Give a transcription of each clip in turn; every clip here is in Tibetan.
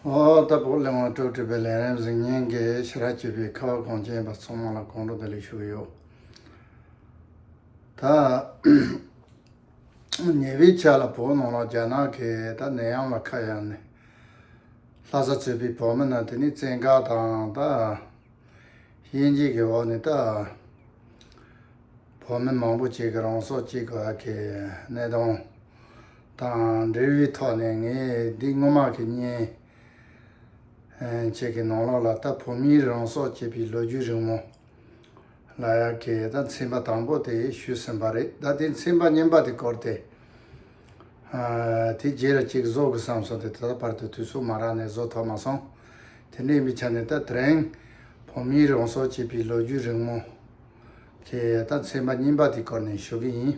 རྟ་ཕོ་གླིང་བ་དྲུག་བྲིས་པའི་ལན་རིམ་གཟིགས་སྙན་གྱི་ཕྱི་ར་བྱིས་པའི་ཁ་བ་གངས་ཅན་པ་ཚང་མ་ལ་གང་དྲོ་བདེ་ལེགས་ཞུ་གི་ཡོད། ད། ཉེ་བའི་ཆ་ལ་བོད་ནང་ལ་རྒྱ་ནག་གིས་ད་ནད་ཡམས་ལ་ཁ་གཡར་ནས། ལྷ་ས་ཚུད་པའི་བོད་མི་རྣམས་དེ་ནས་བཙན་བཀག་དང་ད། དབྱེ་འབྱེད་ཀྱི་འོག་ནས་ད། བོད་མི་མང་པོ་གཅིག་གི་རང་སྲོག་གཅིག་གི་བར་གྱི་གནས་སྟངས། དང་འབྲེལ་བའི་ཐོག་ནས་ངས་འདི་སྔོན་མ་གི་གཉེན་བྱེད་ཀྱི་ནང་ལོགས་ལ་ད་བོད་མིའི་རང་སྲོག་བཅད་པའི་ལོ་རྒྱུས་རིང་མོ་ལ་ཡ་གི་ད་མཚན་པ་དང་པོ་དེ་ཞུས་ཟིན་པ་རེད་ད་དེ་མཚན་པ་སྙན་པ་དེ་བསྐོར་ཏེ་དེ་རྗེས་ར་གཅིག་བཟོ་དགོས་བསམ་སོང་དེ་ད་ལྟ་བར་དུ་དུས་ཚོད་མ་རག་ནས་བཟོ་ཐོག་མ་སོང་དེ་འདྲའི་མི་ཆ་ནས་ད་ཐེངས་བོད་མིའི་རང་སྲོག་བཅད་པའི་ལོ་རྒྱུས་རིང་མོ་གི་ད་མཚན་པ་སྙན་པ་དེ་བསྐོར་ནས་ཞུ་གི་ཡིན།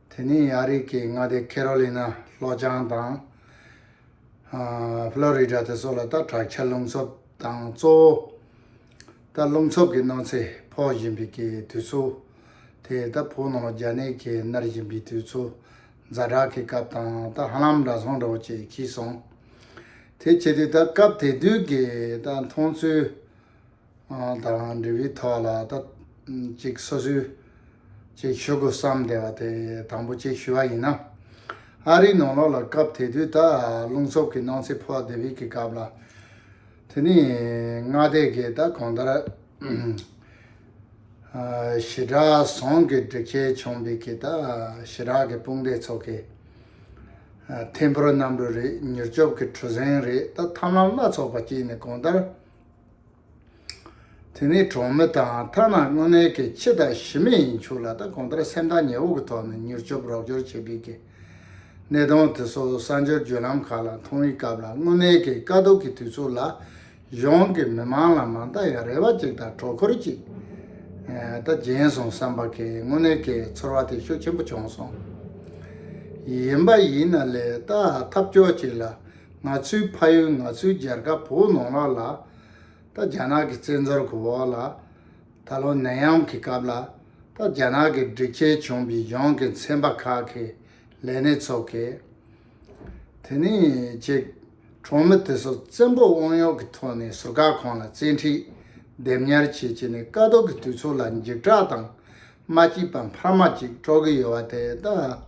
དེ་ནི་ཡ་རིགས་ཀྱི་མངའ་སྡེ་ཁེ་རོ་ལི་ན་ལྷོ་བྱང་དང། ཧྥི་ལོ་རི་ཏྲ་དེ་སོགས་ལ་ལྟ་དྲག་ཆར་རླུང་འཚུབ་དང་གཙོ་བོ། ལྟ་རླུང་འཚུབ་ཀྱི་གནོད་འཚེ་ཕོག་བཞིན་པའི་དུས་ཚོད་དེ་ལྟ་བུ་ནང་རྒྱ་ནད་ཀྱིས་མནར་བཞིན་པའི་དུས་ཚོད་རྫ་དྲག་གི་སྐབས་དང་ལྟ་ཧ་ལམ་འདྲ་སོང་འདྲ་བོ་བྱེད་ཀྱི་སོང། དེ་བྱས་དུས་ལྟ་སྐབས་དེ་དུས་ཀྱི་ལྟ་མཐོང་ཚུལ། ད་རང་འབྲས་བུའི་ཐོག་ལ་ད་ཅིག་སོ་སོའི་ཅིག་ཞུ་དགོས་བསམ་བསྡད་པ་དེ་དང་པོ་ཅིག་ཞུ་བ་ཡིན་ན། ཨ་རིའི་ནང་ལོགས་ལ་སྐབས་དེ་དུས་ད་རླུང་འཚུབ་ཀྱི་སྣང་ཚེ་ཕོག་དེ་བིས་ཀྱི་སྐབས་ལ། དེ་ནི་སྔ་ལྟས་ཀྱི་ད་གང་ལྟར་ཞི་དྲག་ཟོང་གི་སྒྲིག་ཆས་བྱུང་བིས་ཀྱི་ད་ཞི་དྲག་གི་དཔུང་སྡེ་ཚོགས་ཀྱི་ཐེམ་ཕུར་གནམ་གྲུ་རེད་མྱུར་སྐྱོབ་ཀྱི་གྲུ་གཟེངས་རེད་ད་ཐམས་ལམ་བླ་ཚོགས་པ་སྐྱིད་ནི་གང་ལྟར། དེ་ནི་གྲོང་མི་དང་ཐ་ན་དངོས་གནས་ཀྱི་ཁྱི་དང་ཞི་མི་ཡིན་ཆོག་ལ་ད་གོང་ལྟར་སེམས་ཐག་ཉེ་བོ་གི་ཐོག་ནས་མྱུར་སྐྱོབ་རོགས་སྐྱོར་བྱེད་དགོས་ཀྱི། གནས་སྟངས་དེ་སོགས་གསར་འབྱོར་བརྒྱུད་ལམ་ཁག་ལ་མཐོང་བའི་སྐབས་ལ་དངོས་གནས་ཀྱི་དཀའ་སྡུག་གི་དུས་ཚོད་ལ་གཞུང་གི་མི་མང་ལ་མ་མཐའ་ཡང་རེ་བ་གཅིག་དང་དྲོ་ཁོལ་གཅིག་ད་སྦྱིན་སོང་བསམ་པ་གིས་དངོས་གནས་ཀྱི་ཚོར་བ་དེ་ཤུགས་ཆེན་པོ་བྱུང་སོང། ཡིན་པ་ཡིན་ན་ལས་ད་ཐབས་སྐྱོ་ཅིག་ལ། ང་ཚོའི་ཕ་ཡུལ་ང་ཚོའི་རྒྱལ་ཁབ་བོད་ནང་ལ་ལ་ད་རྒྱ་ནག་གི་བཙན་འཛུལ་གོ་བོ་ལ་ད་ལོ་ནད་ཡམས་གི་སྐབས་ལ་ད་རྒྱ་ནག་གི་སྒྲིག་ཆས་བྱུང་པའི་གཞུང་གི་ཚན་པ་ཁག་གི་ལས་སྣེ་ཚོགས་གི་དེ་ནས་ཅིག་གྲོང་མི་དེ་ཚོ་བཙན་པོ་དབང་གཡོག་གི་ཐོག་ནས་ཟུར་བཀག་ཁང་ལ་བཙན་ཁྲིད་སྡེབ་ཉར་བྱེད་ཀྱི་ནས་དཀའ་སྡུག་གི་དུས་ཚོད་ལ་འཇིགས་སྐྲག་དང་མ་སྐྱིད་པ་འཕར་མ་ཅིག་སྤྲོ་གི་ཡོད་བ་དེ་ད།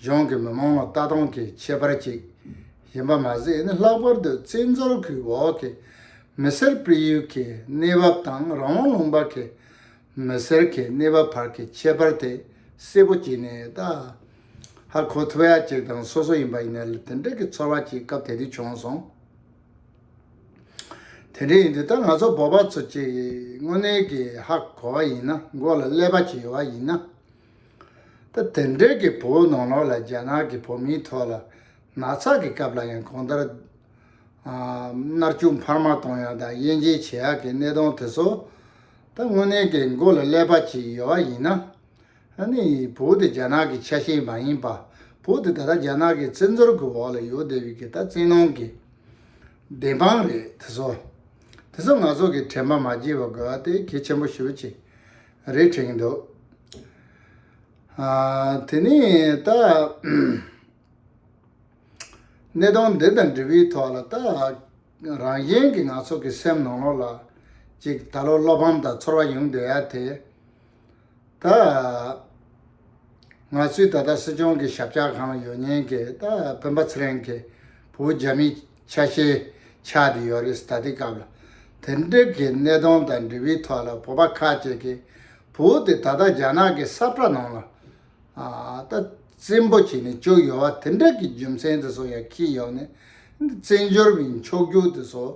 གཞུང་གིས་མི་མང་ལ་ལྟ་སྟངས་ཀྱི་ཁྱད་པར་ཅིག་ཡིན་པ་མ་ཟད་ནི་ལྷག་པར་དུ་བཙན་འཛུལ་གྱི་འོག་གི་མི་སེར་སྤེལ་ཡུལ་གྱི་གནས་བབ་དང་རང་དབང་ལུང་པ་གྱི་མི་སེར་གྱི་གནས་བབ་བར་གྱི་ཁྱད་པར་དེ་གསལ་པོ་གྱིས་ནས་ད་ཧ་གོ་ཐུབ་ཡ་གཅིག་དང་སོ་སོ་ཡིན་པ་ཡིན་ན་དེ་འདྲ་གྱི་ཚོར་བ་ཅིག་སྐབས་དེ་དུས་བྱུང་སོང། དེ་འདྲ་ཡིན་དུས་ད་ང་ཚོ་བོད་པ་ཚོ་གཅིག་དངོས་གནས་ཀྱིས་ཧ་གོ་བ་ཡིན་ན་མགོ་ལ་ཀླད་པ་གཅིག་ཡོད་པ་ཡིན་ན་ད་དེ་འབྲེལ་གྱི་བོད་ནང་ལོགས་ལ་རྒྱ་ནག་གི་བོད་མིའི་ཐོག་ལ་ན་ཚ་གི་སྐབས་ལ་ཡང་གང་ལྟར་མནར་གཅོད་འཕར་མ་གཏོང་ཡག་དང་དབྱེ་འབྱེད་བྱེད་ཡག་གི་གནས་སྟངས་དེ་ཚོ་ད་དངོས་གནས་ཀྱི་མགོ་ལ་ཀླད་པ་གཅིག་ཡོད་བ་ཡིན་ན་ནི་བོད་དེ་རྒྱ་ནག་གི་ཆ་ཤས་མ་ཡིན་པ་བོད་དེ་ད་ལྟ་རྒྱ་ནག་གི་བཙན་འཛུལ་གྱི་འོག་ལ་ཡོད་བསྡད་པའི་གི་ད་བཙན་ནང་གི་བདེན་དཔང་རེད་དེ་ཚོ་དེ་ཚོ་ང་ཚོ་གི་དྲན་པ་མ་བརྗེད་པ་དགོས་བ་དེ་གལ་ཆེན་པོ་ཤོས་གཅིག་རེད་དྲན་གྱི་འདུག་དེ་ནས་ད་གནས་སྟངས་འདི་དང་འབྲེལ་བའི་ཐོག་ལ་ད་རང་གཞན་གྱི་ནག་ཚོགས་ཀྱི་སེམས་ནང་ལོགས་ལ་ཅིག་ད་ལོ་བློ་ཕམ་དང་ཚོར་བ་ཡོང་བསྡད་ཡ་དེ་ད་ང་ཚོས་ད་ལྟ་སྲིད་སྐྱོང་གི་ཞབས་ཕྱག་གང་ལ་ཡོད་ཉན་གི་ད་བོན་པ་ཚེ་རིང་གི་བུ་རྒྱ་མི་ཆ་ཤས། ཆགས་འདི་ཡོད་རེད་ད་ལྟའི་སྐབས་ལ། དེ་འབྲེལ་གྱི་གནད་དོན་དང་འབྲེལ་བའི་ཐོག་ལ་བོད་པ་ཁ་ཅིག་གིས་བོད་དེ་ད་ལྟ་རྒྱ་ནག་གི་ས་བཀྲ་ནང་ལ། ད་བཙན་པོ་བྱས་ནས་བཅུག་ཡོད་བ་དེ་འདྲ་གི་རྒྱུ་མཚན་དེ་ཚོ་ཡང་ཁེལ་ཡོང་ནས། འདི་བཙན་བྱོལ་བའི་མཆོག་རྒྱུག་དེ་ཚོ།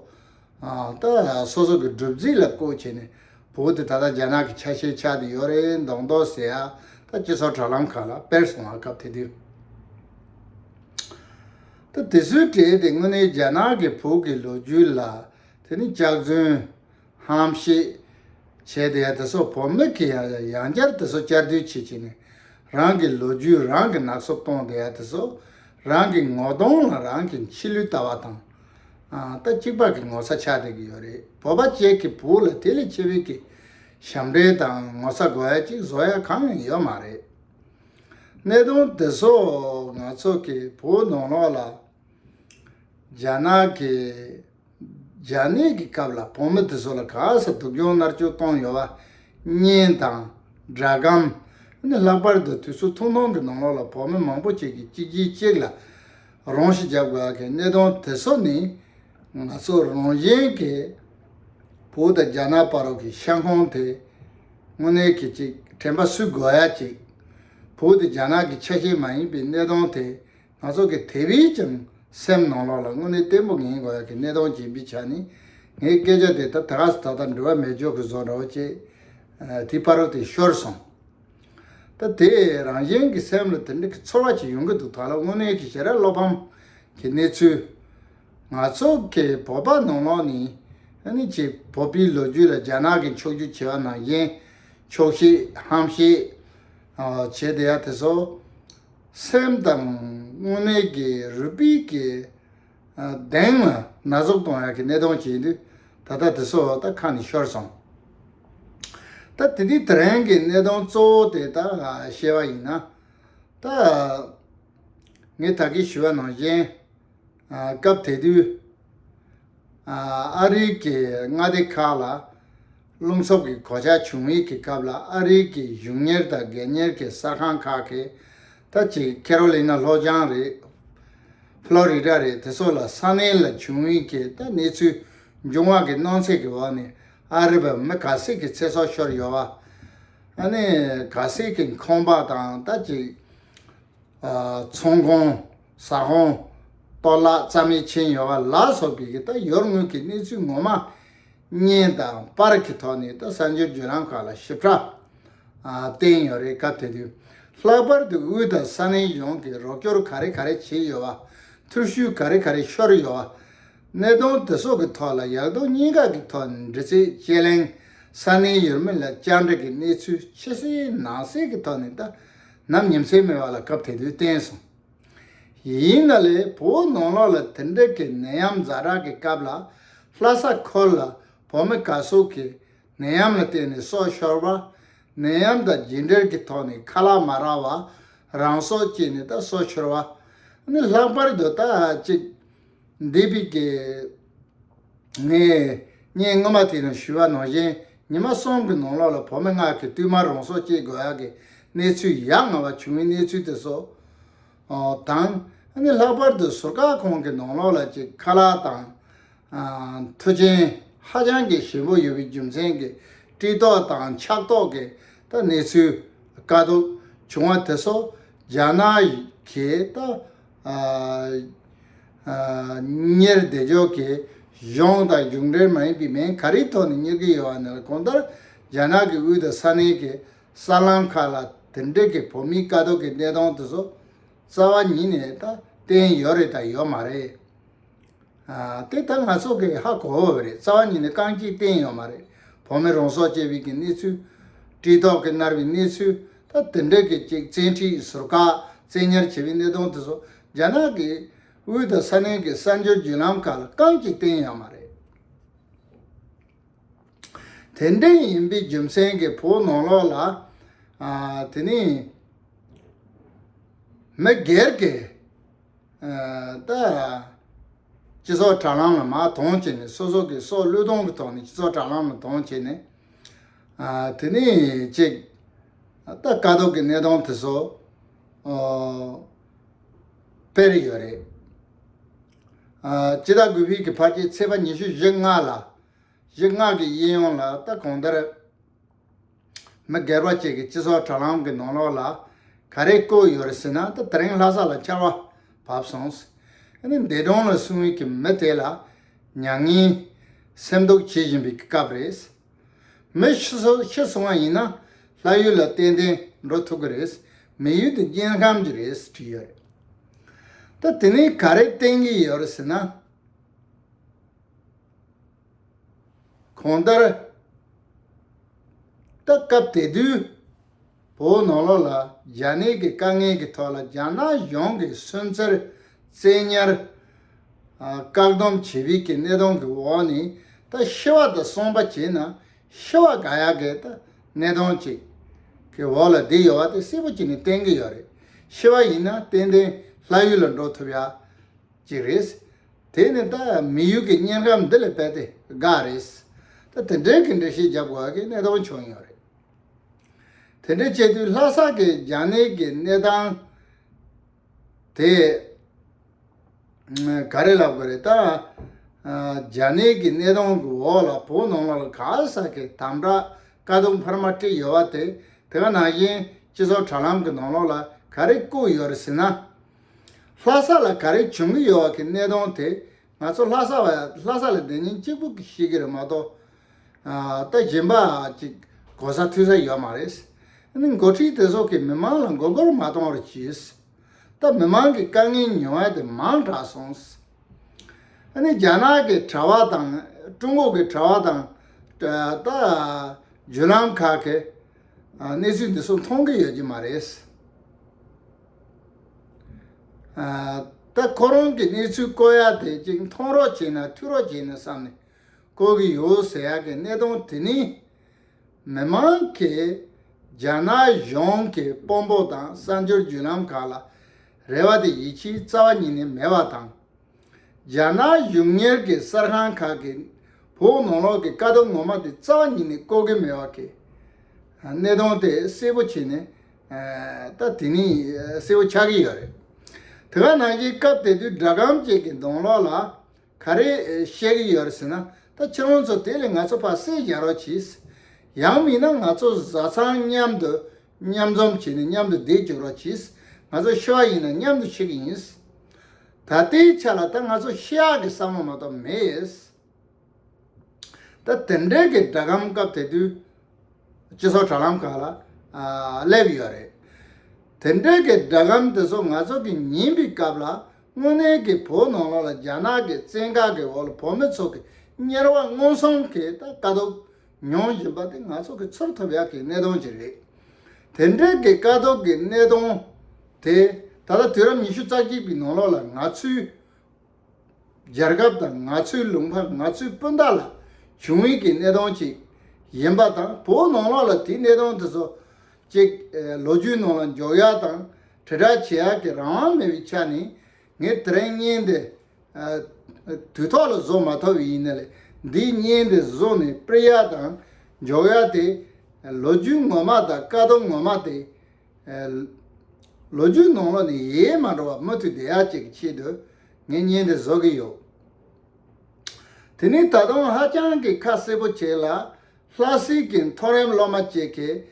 ད་སོ་སོ་གི་སྒྲུབ་རྫས་ལ་བཀོལ་བྱས་ནས་བོད་དེ་ད་ལྟ་རྒྱ་ནག་གི་ཆ་ཤས་ཆགས་འདི་ཡོད་རེད་མདོག་མདོག་ཟེར་ཡ་ད་སྤྱི་ཚོགས་དྲ་ལམ་ཁག་ལ་སྤེལ་སོང་བ་སྐབས་དེ་དུས། ཏུ་དེ་སུའི་གྲས་དེ་དངོས་གནས་རྒྱ་ནག་གི་བོད་ཀྱི་ལོ་རྒྱུས་ལ་དེ་ནི་སྐྱག་རྫུན། ཧམ་བཤད། བྱས་ཏེ་ཡང་དེ་སོགས་བོད་མི་གིས་ཡང་ཡང་ཡང་བསྐྱར་དེ་སོགས་བསྐྱར་བསྡུས་བྱེད་བྱེད་ནས་རང་གི་ལོ་རྒྱུས་རང་གིས་ནག་སོབ་གཏོང་དེ་ཡང་དེ་སོགས་རང་གི་ངོ་གདོང་ལ་རང་གི་མཆི་ལུས་ལྟ་བ་དང། ལྟ་གཅིག་པ་གི་ངོ་ཚ་ཆགས་བསྡད་ཀྱི་ཡོད་རེད་བོད་པ་བཅས་ཀྱི་བོད་ལ་དེ་ལས་ཆེ་བའི་གི་ཞབས་འདྲེན་དང་ངོ་ཚ་དགོས་ཡ་གཅིག་བཟོ་ཡ་གང་ཡང་ཡོད་མ་རེད། གནས་དོན་འདི་སོགས་ང་ཚོ་གི་བོད་ནང་ལོགས་ལ་རྒྱ་ནག་གི་རྒྱ་ནད་ཀྱི་སྐབས་ལ་བོད་མི་དེ་ཚོ་ལ་ག་ས་སྡུག་སྦྱོང་མནར་གཅོད་བཏང་ཡོད་པ་བརྙན་དང་སྒྲ་སྒམ་ནི་ལྷག་པར་དུ་དུས་ཚོད་ཐུང་ཐུང་གི་ནང་ལོགས་ལ་བོད་མི་མང་པོ་ཅིག་གིས་གཅིག་རྗེས་གཅིག་ལ་རང་ཤི་བརྒྱབ་དགོས་ཀྱི་གནས་དོན་དེ་ཚོ་ནི་ང་ཚོ་རང་གཞན་གི་བོད་དང་རྒྱ་ནག་བར་གྱི་ཤ་འཁོན་དེ། དངོས་གནས་གྱིས་ཅིག་དྲན་པ་སུས་དགོས་ཡ་ཅིག། བོད་དེ་རྒྱ་ནག་གི་ཆ་ཤས་མ་ཡིན་པའི་གནས་སྟངས་དེ་ང་ཚོ་གི་དེ་བས་ཀྱང་སེམས་ནང་ལོག་ལ་དངོས་གནས་བརྟན་པོ་ངེས་དགོས་ཡ་གི་གནས་སྟངས་ཇི་འབི་ཆ་ནི། ངའི་སྐད་ཆ་དེ་ད་ད་ག་ས་ད་ད་འགྲུལ་བ་མེད་འཇོག་གི་བཟོ་འདྲ་བོ་ཅེས་དེའི་ཕ་རོལ་དེ་ཤོར་སོང། ད་དེ་རང་གཞན་གི་སེམས་ལ་དེ་འདྲ་གི་ཚོར་བ་ཅིག་ཡོང་གི་འདུག་ད་ལོ་དངོས་གནས་གྱི་ཞེ་ར་བློ་ཕམ་གྱི་གནས་ཚུལ་ང་ཚོ་གི་བོད་པ་ནོར་ལོག་ནི་ཨ་ནི་ཀྱི་བོད་པའི་ལོ་རྒྱུས་ལ་རྒྱ་ནག་གི་འཁྱོག་རྒྱུག་བྱེད་པ་ནང་བཞིན་འཁྱོག་ཤེས་ཧམ་བཤད་བྱེད་བསྡད་ཡ་དེ་སོགས་སེམས་དང་དངོས་གནས་ཀྱི་རུས་སྤུས་ཀྱི་གདེང་ལ་ན་ཟུག་གཏོང་ཡ་གི་གནས་སྟོང་བྱེད་ཡིན་དུས་ད་ལྟ་དེ་སོགས་ད་ཁ་ནས་ཤོར་སོང་ད་དེ་དུས་དེ་རིང་གི་གནས་སྟོང་གཙོ་བོ་དེ་ད་བཤད་པ་ཡིན་ན་ད་ངས་ད་གིས་ཞུ་བ་ནང་བཞིན། སྐབས་དེ་དུས་ཨ་རིའི་གི་མངའ་སྡེ་ཁག་ལ་རླུང་འཚུབ་ཀྱི་གོ་ཆ་བྱུང་ཡིག་གི་སྐབས་ལ་ཨ་རིའི་གི་གཞུང་གཉེར་དང་སྒེར་གཉེར་གི་གསར་ཁང་ཁག་གིས་ད་ཅིག་ཁེ་རོ་ལི་ན་ལྷོ་བྱང་རེད Florida རེད་དེ་ཚོ་ལ་ས་གནས་ལ་བྱུང་ཡིག་གི་ད་གནས་ཚུལ་འབྱུང་བ་གི་སྣང་ཚད་གི་འོག་ནས་ཨ་རི་བ་མི་ག་ཟིག་གི་ཚེ་སྲོག་ཤོར་ཡོད་བ་ཨ་ནི་ག་ཟིག་གི་ཁང་པ་དང་ད་ཅིག་ཚོང་ཁང། ཟ་ཧོང། གཏོར་བརླག་རྩ་མེད་ཕྱིན་ཡོད་པ་ལ་སོགས་པའི་ད་ཡོར་དངུལ་གྱི་གནས་ཚུལ་ངོ་མ། བརྙན་དང་པར་གྱི་ཐོག་ནས་ད་གསར་འགྱུར་བརྒྱུད་ལམ་ཁག་ལ་ཞིབ་ཕྲ། བསྟན་ཡོད་རེད་སྐབས་དེ་དུས་ལྷག་པར་དུ་དབུས་དང་ས་གནས་གཞུང་གིས་རོགས་སྐྱོར་ག་རེ་ག་རེ་བྱས་ཡོད་པ། ཐུགས་ཤུལ་ག་རེ་ག་རེ་ཤོར་ཡོད་པ། གནད་དོན་དེ་སོགས་ཀྱི་ཐོག་ལ་ཡག་སྡུག་གཉིས་ཀ་གྱི་ཐོག་ནས་འདྲི་རྩད་དཔྱད་གླེང། ས་གནས་ཡུལ་མི་ལ་བཅར་འདྲི་གི་གནས་ཚུལ་ཕྱི་གསལ་ནང་གསལ་གྱི་ཐོག་ནས་ད་ནམ་ཉིན་ཚེགས་མེད་པ་ལ་སྐབས་དེ་དུས་བསྟན་སོང། ཡིན་ན་ལས་བུའི་ནང་ལོགས་ལ་དེ་འདྲ་གི་ནད་ཡམས་རྫ་རག་གི་སྐབས་ལ་ལྷ་ས་ཁོལ་ལ་བོད་མི་ག་ཟུག་གི་ནད་ཡམས་ལ་བརྟེན་ནས་སྲོག་ཤོར་བ། ནད་ཡམས་དང་རྒྱུད་འགྲེལ་གི་ཐོག་ནས་ཁ་ལག་མ་རག་བ་རང་སྲོག་བཅད་ནས་ད་སྲོག་ཤོར་བ། ནི་ལྷག་པར་དུ་ད་ཅིག་འདས་པའི་དགེ་བསྙེན་སྔོན་མ་དེ་ནས་ཞུ་བ་ནང་བཞིན་ཉི་མ་གསུམ་གྱི་ནང་ལོགས་ལ་བུ་མོ་སྔགས་ཀྱི་བཏུལ་མ་རང་སྲོག་བཅད་དགོས་ཡག་གི་གནས་ཚུལ་ཡ་ང་བ་བྱུང་བའི་གནས་ཚུལ་དེ་སོགས་དང། ལྷག་པར་དུ་ཟུར་བཀག་ཁང་གི་ནང་ལོགས་ལ་གཅིག་ཁ་ལག་དང། མཐུ་ཆེན་ཧ་ཅང་གི་ཞིམ་པོ་ཡོད་པའི་རྒྱུ་མཚན་གྱི་དཀྲིས་ཏོག་དང་ཆགས་ཏོག་གི་ད་གནས་ཚུལ་དཀའ་སྡུག་བྱུང་བ་དེ་སོགས་རྒྱ་ནག་གིས་ད། གཉེར་བདེ་མཆོག་གིས་གཞུང་དང་གཞུང་འབྲེལ་མ་ཡིན་པའི་མིང་ག་རེའི་ཐོག་ནས་གཉེར་གྱི་ཡོད་བ་ནི་གོང་ལྟར་རྒྱ་ནག་གི་དབུས་དང་ས་གནས་ཀྱི་གསར་ལམ་ཁག་ལ་དེ་འབྲེལ་གྱི་བོད་མིའི་དཀའ་སྡུག་གི་གནས་སྟངས་དེ་ཚོ་རྩ་བ་ཉིད་ནས་ད་བསྟན་ཡོད་རེད་དང་ཡོད་མ་རེད། དེ་ལྟར་ན་སྲོག་གི་ཧ་གོ་བ་རེད་རྩ་བ་ཉིད་ནས་རྐང་གཅིག་བསྟན་ཡོད་མ་རེད་བོད་མི་རང་སྲོག་བཅད་བིས་ཀྱི་གནས་ཚུལ། བཀྲིས་ལྡོག་གི་མནར་བའི་གནས་ཚུལ་ད་དེ་འདྲ་གི་ཅིག་བཙན་ཁྲིད་ཟུར་བཀག་བཙན་ཉར་བྱས་བའི་གནས་སྟངས་དེ་ཚོ་རྒྱ་ནག་གི་དབུས་དང་ས་གནས་ཀྱི་གསར་འབྱོར་བརྒྱུད་ལམ་ཁག་ལ་རྐང་གཅིག་བསྟན་ཡོད་མ་རེད། དེ་འདྲ་ཡིན་པའི་རྒྱུ་མཚན་གྱིས་བོད་ནང་ལོགས་ལ། དེ་ནས། མི་སྒེར་གྱི། ལྟ། སྤྱི་ཚོགས་དྲ་ལམ་ལ་མ་མཐོང་བྱས་ནས་སོ་སོ་གི་སྲོག་བློས་གཏོང་གི་ཐོག་ནས་སྤྱི་ཚོགས་དྲ་ལམ་ལ་མཐོང་བྱས་ནས། དེ་ནས་ཅིག། ལྟ་དཀའ་སྡུག་གི་གནས་སྟངས་དེ་ཚོ། དཔེར་ཡོད་རེད། སྤྱི་ཟླ་དགུ་བྷིག་གི་ཕར་རྗེས་ཚེས་པ་ཉི་ཤུ་བཞི་ལྔ་ལ། བཞི་ལྔ་གི་དབྱིན་ཡོངས་ལ་ལྟ་གང་ལྟར། མི་སྒེར་པ་བཅས་ཀྱི་སྤྱི་ཚོགས་དྲ་ལམ་གྱི་ནང་ལོགས་ལ་ག་རེ་བཀོད་ཡོད་རེད་ཟེར་ན་ད་དེ་རིང་ལྷ་ས་ལ་ཆར་བ་བབས་སོང། འདས་གྲོངས་ལ་སོན་ཡུལ་གྱི་མི་དེ་ལ་མྱ་ངན་སེམས་སྡུག་བྱེད་བཞིན་པའི་སྐབས་རེད། མི་ཤི་ཤི་སོང་བ་ཡིན་ན་ལྷ་ཡུལ་ལ་ཏན་ཏན་འགྲོ་ཐུབ་ཀྱི་རེད་མི་ཡུལ་དུ་དཀྱིལ་ཁམས་ཀྱི་རེད་བྲིས་ཡོད་རེད། ད་དེ་ནས་ག་རེ་བསྟན་གྱི་ཡོད་རེད་ཟེར་ན། གོང་ལྟར། ལྟ་སྐབས་དེ་དུས་བོད་ནང་ལོགས་ལ་རྒྱ་ནད་ཀྱི་དཀའ་ངལ་གྱི་ཐོག་ལ་རྒྱ་ནག་གཞུང་གིས་སུན་གཙེར། བཙན་ཉར། བཀག་སྡོམ་བྱེད་རིགས་ཀྱི་གནས་སྟངས་ཀྱི་འོག་ནས་ད་ཤི་བ་དང་སོང་པ་བྱས་ན་ཤི་བ་ག་ཡག་གི་ད་གནས་སྟངས་ཅིག་གི་འོག་ལ་བསྡད་ཡོད་པ་དེ་གསལ་པོ་བྱས་ནས་བསྟན་གྱི་ཡོད་རེད། ཤི་བ་ཡིན་ན་ཏན་ཏན་ལྷ་ཡུལ་ལ་འགྲོ་ཐུབ་ཡག་ཅིག་རེད། དེ་ནི་ད་མི་ཡུལ་གྱི་བརྙན་གྲམ་འདི་ལས་དཔལ་དེ་འགའ་རེད། ད་དེ་འདྲའི་གི་འདྲི་ཞིག་བརྒྱབ་དགོས་ཀྱི་གནད་དོན་བྱུང་ཡོད་རེད། དེ་འདྲའི་སྤྱི་འཐུས་ལྷ་ས་གི་རྒྱ་ནད་ཀྱི་གནས་སྟངས་དེ་ག་རེ་ལབ་དགོས་རེད། ད་རྒྱ་ནད་ཀྱི་གནས་སྟངས་ཀྱི་འོག་ལ་བོད་ནང་ལ་ག་ས་གི་དམ་དྲག་དཀའ་སྡུག་འཕར་མ་དཀྲིས་ཡོད་པ་དེ་དེ་ག་ནང་བཞིན་སྤྱི་ཚོགས་དྲ་ལམ་གྱི་ནང་ལོགས་ལ་ག་རེ་བཀུག་ཡོད་རེད་ཟེར་ན། ལྷ་ས་ལ་ག་རེ་བྱུང་གི་ཡོད་གི་གནས་སྟོང་དེ་ང་ཚོ་ལྷ་ས་བ་ལྷ་ས་ལ་འདི་ཉིན་གཅིག་པུ་ཞིག་གི་རེད་མ་གཏོགས་ད་གཞན་པ་ཅིག་གོ་ས་ཐོས་ས་ཡོད་མ་རེད། འདི་འགོ་ཁྲིད་དེ་ཚོ་གི་མི་མང་ལ་མགོ་སྐོར་མ་གཏོང་བར་གྱིས། ད་མི་མང་གི་དཀའ་ངལ་མྱོང་བ་དེ་མང་དྲགས་སོང། འདི་རྒྱ་ནག་གི་དྲ་བ་དང་ཀྲུང་གོ་གི་དྲ་བ་དང་ད་བརྒྱུད་ལམ་ཁག་གི་གནས་ཚུལ་འདི་ཚོ་མཐོང་གི་ཡོད་ཀྱི་མ་རེད། ད་ཁོ་རང་གི་གནས་ཚུལ་བཀོད་ཡག་དེ་གཅིག་མཐོང་རོགས་བྱས་ན་ཐུག་རོགས་བྱས་ནས་བསམ་ནས་བཀོད་ཀྱི་ཡོད་ཟེར་ཡག་གི་གནས་སྟངས་དེ་ནི། མི་མང་གིས་རྒྱ་ནག་གཞུང་གི་དཔོན་པོ་དང་གསར་འབྱོར་བརྒྱུད་ལམ་ཁག་ལ་རེ་བ་དེ་ཡིད་ཆེས་རྩ་བ་ཉིད་ནས་མེད་པ་དང། རྒྱ་ནག་གཞུང་གཉེར་གྱི་གསར་ཁང་ཁག་གིས་བོད་ནང་ལོགས་ཀྱི་དཀའ་སྡུག་ངོ་མ་དེ་རྩ་བ་ཉིད་ནས་བཀོད་ཀྱི་མེད་བ་ཁེལ། གནད་དོན་དེ་གསལ་པོ་བྱས་ནས་ད་དེ་ནས་གསལ་བོ་ཆགས་ཀྱི་ཡོད་རེད། དེ་ག་ནང་བཞིན་སྐབས་དེ་དུས་སྒྲ་སྒམ་བཅས་ཀྱི་གདོང་ལོགས་ལ་ག་རེ་བཤད་ཀྱི་ཡོད་རེད་ཟེར་ན་ད་ཕྱི་རོལ་ཚོ་དེ་ལས་ང་ཚོ་ཕ་བསད་བཞག་རོགས་གྱིས། ཡང་མིན་ན་ང་ཚོ་བཟའ་ཚང་མཉམ་དུ་མཉམ་འཛོམས་བྱས་ནས་མཉམ་དུ་བསྡད་བཅུག་རོགས་གྱིས། ང་ཚོ་ཤི་བ་ཡིན་ན་མཉམ་དུ་འཆི་གི་ཡིན། ད་ལྟའི་ཆ་ལ་ད་ང་ཚོ་ཤི་ཡག་གི་བསམ་བློ་མ་གཏོགས་མེད། ད་དེ་འབྲེལ་གྱི་སྒྲ་སྒམ་སྐབས་དེ་དུས་སྤྱི་ཚོགས་དྲ་ལམ་ཁག་ལ་སླེབས་ཡོད་རེད། དེ་འབྲེལ་གྱི་སྒྲ་སྒམ་དེ་ཚོ་ང་ཚོ་གི་ཉིན་པའི་སྐབས་ལ་དངོས་གནས་ཀྱི་བོད་ནང་ལོགས་ལ་རྒྱ་ནག་གི་བཙན་བཀག་གི་འོག་ལ་བོད་མི་ཚོ་གི་གཉེར་བ་མངོན་སུམ་གྱིས་ད་དཀའ་སྡུག་མྱོང་བཞིན་པ་དེ་ང་ཚོ་གི་ཚོར་ཐོབ་ཡག་གི་གནས་སྟངས་ཤིག་རེད། དེ་འབྲེལ་གྱི་དཀའ་སྡུག་གི་གནས་སྟངས་དེ་ད་ལྟ་དུས་རབས་ཉི་ཤུ་རྩ་གཅིག་པའི་ནང་ལོགས་ལ་ང་ཚོའི་རྒྱལ་ཁབ་དང་ང་ཚོའི་ལུང་པ་ང་ཚོའི་སྤུན་ཟླ་ལ་བྱུང་ཡོད་ཀྱི་གནས་སྟངས་ཤིག་ཡིན་པ་དང་བོ་ནང་ལོགས་ལ་དེའི་གནས་སྟངས་དེ་ཚོ་ཅིག་ལོ་རྒྱུས་ནང་ལ་འཇོག་ཡག་དང་དྲིལ་བསྒྲགས་བྱེད་ཡག་གི་རང་དབང་མེད་པའི་ཆ་ནས་ངས་དེ་རིང་བརྙན་དེ་དུས་ཐོག་ལ་བཟོ་མ་ཐུབ་ཡིན་ནའི། འདིའི་བརྙན་དེ་བཟོ་ནས་སྤེལ་ཡ་དང་འཇོག་ཡ་དེ། ལོ་རྒྱུས་ངོ་མ་དང་བཀའ་སྡོམ་ངོ་མ་དེ། ལོ་རྒྱུས་ནང་ལོགས་ནས་ཡལ་མ་འགྲོ་བར་མུ་མཐུད་བསྡད་ཡ་བཅས་ཀྱི་ཆེད་དུ་ངས་བརྙན་དེ་བཟོ་གི་ཡོད། དེ་ནི་ད་དུང་ཧ་ཅང་གི་ཁ་གསལ་པོ་བྱས་ལ། ལྷ་སྲིན་གྱི་མཐོ་རིམ་སློབ་མ་གཅིག་གིས་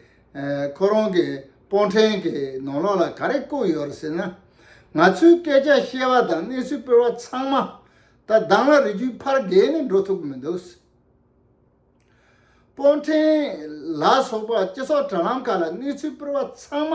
ཁོ་རང་གི་སྤོ་འཕྲེང་གི་ནང་ལོགས་ལ་ག་རེ་བརྐོས་ཡོད་རེད་ཟེར་ན། ང་ཚོས་སྐད་ཆ་བཤད་པ་དང་གནས་ཚུལ་སྤེལ་བ་ཚང་མ་ད་གདང་ལ་རི་རྒྱུད་ཕར་བརྒལ་ནས་འགྲོ་ཐུབ་ཀྱི་མི་འདུག་ཟེར། སྤོ་འཕྲེང་ལ་སོགས་པ་སྤྱི་ཚོགས་དྲ་ལམ་ཁག་ལ་གནས་ཚུལ་སྤེལ་བ་ཚང་མ་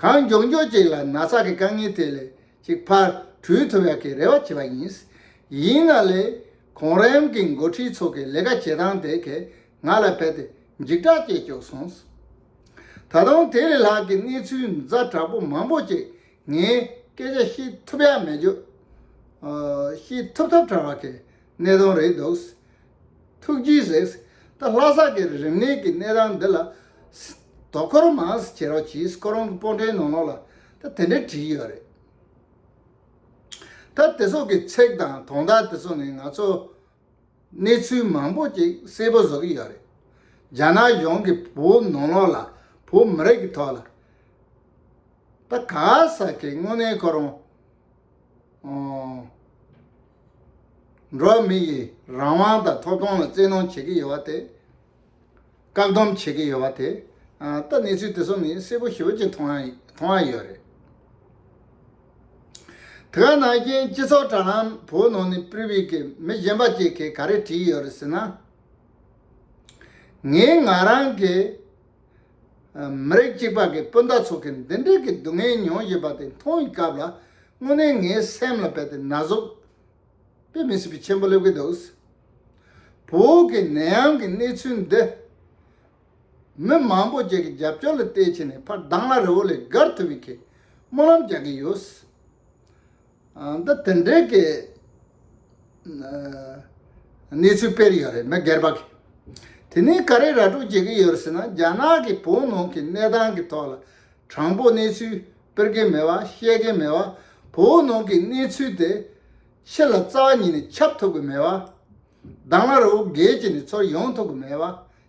གང་མགྱོགས་མགྱོགས་ཅིག་ལ་ན་ཚ་གི་དཀའ་ངལ་དེ་ལས་ཅིག་ཕར་བྲུལ་ཐུབ་ཡག་གི་རེ་བ་བྱེད་པ་ཡིན། ཡིན་ན་ལས་གོང་རིམ་གི་མགོ་ཁྲིད་ཚོ་གི་ལས་ཀ་བྱེད་སྟངས་དེ་གས་ང་ལ་བལ་ཏེ་འཇིགས་སྐྲག་སྐྱེས་བཅུག་སོང། ད་དུང་དེ་ལས་ལྷག་གི་གནས་ཚུལ་མཛའ་དྲག་པོ་མང་པོ་ཅིག་ངས་སྐད་ཆ་ཤི་ཐུབ་ཡག་མེད་བརྗོད། ཤི་ཐུབ་ཐབས་བྲལ་བ་གས་གནད་དོན་རེད་འདུག་ཐུགས་རྗེའི་གཟེགས། ད་ལྷ་སར་གྱི་རིམས་ནད་ཀྱི་ནད་རང་འདི་ལ། དོ་ཁོར་མ་ཟེར་བྱེད་རོགས་གྱིས་ཁོ་རང་གི་སྤོ་འདྲའི་ནང་ལོགས་ལ་ད་དེ་འདྲས་བྲིས་ཡོད་རེད། ད་དེ་སོགས་ཀྱི་ཚེག་དང་དོང་དག་དེ་ཚོ་ནས་ང་ཚོ་གནས་ཚུལ་མང་པོ་ཅིག་གསལ་པོ་བཟོ་གི་ཡོད་རེད། རྒྱ་ནག་གཞུང་གི་བོད་ནང་ལོགས་ལ་བོད་མི་རིགས་ཀྱི་ཐོག་ལ། ད་ག་ས་ཀྱི་དངོས་གནས་ཁོ་རང། འགྲོ་བ་མི་ཡི་རང་དབང་དང་ཐོབ་ཐང་ལ་བཙན་གནོན་བྱེད་ཀྱི་ཡོད་པ་དེ། བཀག་སྡོམ་བྱེད་ཀྱི་ཡོད་པ་དེ། ད་གནས་ཚུལ་དེ་ཚོ་ནི་གསལ་པོ་ཞིབ་ཀྱིས་མཐོང་ཡ་ཡོད་རེད། དེ་ག་ནང་བཞིན་སྤྱི་ཚོགས་དྲ་ལམ་བོའུ་ནང་ནས་པུའུ་ཡི་གི་མི་གཞན་པ་གཅིག་གིས་ག་རེ་བྲིས་ཡོད་རེད་ཟེར་ན། ངས་ང་རང་གི། མི་རིགས་གཅིག་པ་གི་སྤུན་ཟླ་ཚོ་གི་འདི་འདྲིལ་གི་སྡུག་བསྔལ་མྱོང་བཞིན་པ་དེ་མཐོང་ཡི་སྐབས་ལ་དངོས་གནས་ངའི་སེམས་ལ་བལ་ཏེ་ན་ཟུག་པའི་མི་སི་པི་ཆེན་པོ་སླེབས་གི་འདུག་བོད་གི་ནད་ཡམས་གི་གནས་ཚུལ་འདི་མི་མང་པོ་བཅས་ཀི་རྒྱབ་སྐྱོར་ལ་བལྟས་ཕྱིན་ནས་ཕར་དྭང་ལ་རི་བོ་ལས་བརྒལ་ཐུབ་པའི་གི་སྨོན་ལམ་རྒྱག་གི་ཡོད། ད་དེ་འདྲའི་གནས་ཚུལ་དཔེར་ཡོད་རེད་མི་སྒེར་པ་གིས་དེ་ནས་ག་རེ་ར་སྤྲོད་བྱེད་ཀྱི་ཡོད་ཟེར་ན་རྒྱ་ནག་གི་བོད་ནང་གི་གནས་སྟངས་ཀྱི་ཐོག་ལ་དྲང་པོ་གནས་ཚུལ་དཔེར་མཁན་མེད་པ་བཤད་མཁན་མེད་པ་བོད་ནང་གི་གནས་ཚུལ་དེ་ཕྱི་ལ་རྩ་བ་ཉིད་ནས་ཁྱབ་ཐུབ་ཀྱི་མེད་པ། དྭང་བླ་རུ་རྒྱལ་གྱི་ནས་ཚོར་ཡོང་ཐུབ་ཀྱི་མེད་པ།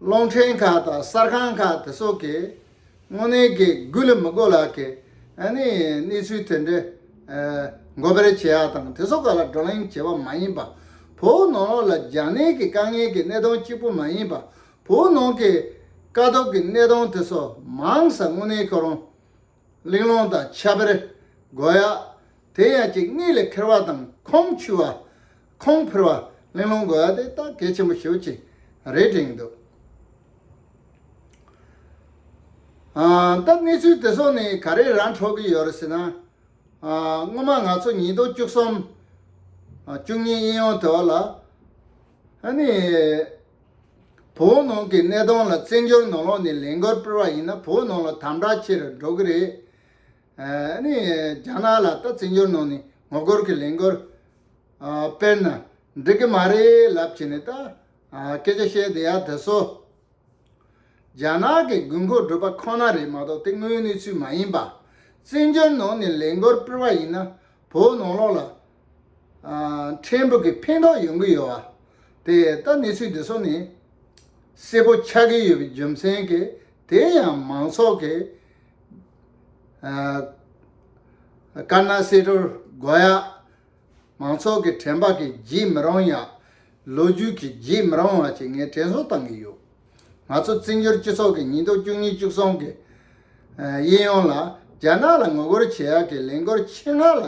རླུང་འཕྲིན་ཁག་དང་གསར་ཁང་ཁག་དེ་སོགས་ཀྱིས་དངོས་གནས་དགེ་སྒུག་ལ་མི་གོ་ལག་གི་གནས་ཚུལ་དེ་འདྲ་འགོ་སྤེལ་བྱེད་ཡག་དང་དེ་སོགས་ཀ་ལ་བགྲོ་གླེང་བྱེད་པ་མ་ཡིན་པ། བོད་ནང་ལོགས་ལ་རྒྱ་ནད་ཀྱི་དཀའ་ངལ་གྱི་གནས་སྟངས་གཅིག་པུ་མ་ཡིན་པ་བོད་ནང་གི་དཀའ་སྡུག་གི་གནས་སྟངས་དེ་སོགས་མང་ས་དངོས་གནས་ཁྱོད་རང་གླེང་སློང་དང་ཆ་དཔེར་རྒོལ་ཡག། དེ་ཡན་ཅིག་གཉིས་ལས་འཁེལ་བ་དང་ཁོང་ཆུད་བ། ཁོང་ཕུར་བ། གླེང་སློང་རྒོལ་ཡག་དེ་ད་གལ་ཆེན་པོ་ཞིག་ཅིག་རེད་དྲན་གྱི་འདུག་སྟབས། གནས་ཚུལ་དེ་ཚོ་ནི་ག་རེ་རང་འཕྲོག་གི་ཡོད་རེད་ཟེར་ན། སྔོན་མ་ང་ཚོ་ཉིས་སྟོང་བཅུ་གསུམ། བཅུ་གཉིས་དབྱིན་ཡོང་དེ་བ་ལ། བོད་ནང་གི་གནས་སྟངས་ལ་བཙན་བྱོལ་ནང་ལོགས་ནས་ལན་འགར་སྤེལ་བ་ཡིན་ན་བོད་ནང་ལ་དམ་དྲག་ཆེ་རུ་འགྲོ་གི་རེད། རྒྱ་ནག་ལ་ད་བཙན་བྱོལ་ནང་ནས་ངོ་རྒོལ་གྱི་ལན་འགར་སྤེལ་ན་འགྲིག་གི་མ་རེད་ལབ་བྱས་ནས་ད་སྐད་ཆ་བཤད་བསྡད་ཡ་དེ་སོ། རྒྱ་ནག་གི་དགོས་མཁོ་བསྒྲུབ་པ་ཁོ་ན་རེད་མ་གཏོགས་དེ་དངོས་གནས་ཚུལ་མ་ཡིན་པ། བཙན་བྱོལ་ནང་ནས་ལས་འགོར་སྤེལ་བ་ཡིན་ན་བོད་ནང་ལོགས་ལ། ཕྲན་བུ་གི་ཕན་ཐོག་ཡོང་གི་ཡོད་བ། དེ་ལྟ་གནས་ཚུལ་འདི་ཚོ་ནི། གསལ་པོ་ཆགས་ཀྱི་ཡོད་པའི་རྒྱུ་མཚན་གྱིས་དེ་ཡང་མང་ཚོགས་ཀྱི། དཀར་ནག་བསེ་གྲོར་དགོ་ཡག། མང་ཚོགས་ཀྱི་དྲན་པ་གིས་བརྗེད་མི་རུང་ཡང། ལོ་རྒྱུས་ཀྱིས་བརྗེད་མི་རུང་བ་ཞིག་ངས་དྲན་གསོ་བཏང་གི་ཡོད། ང་ཚོ་བཙན་བྱོལ་སྤྱི་ཚོགས་ཀྱི་ཉིས་སྟོང་བཅུ་གཉིས་བཅུ་གསུམ་གྱི་དབྱིན་ཡུལ་ལ་རྒྱ་ནག་ལ་ངོ་རྒོལ་བྱེད་ཡག་གི་ལས་འགོར་ཆེད་མངགས་ལ་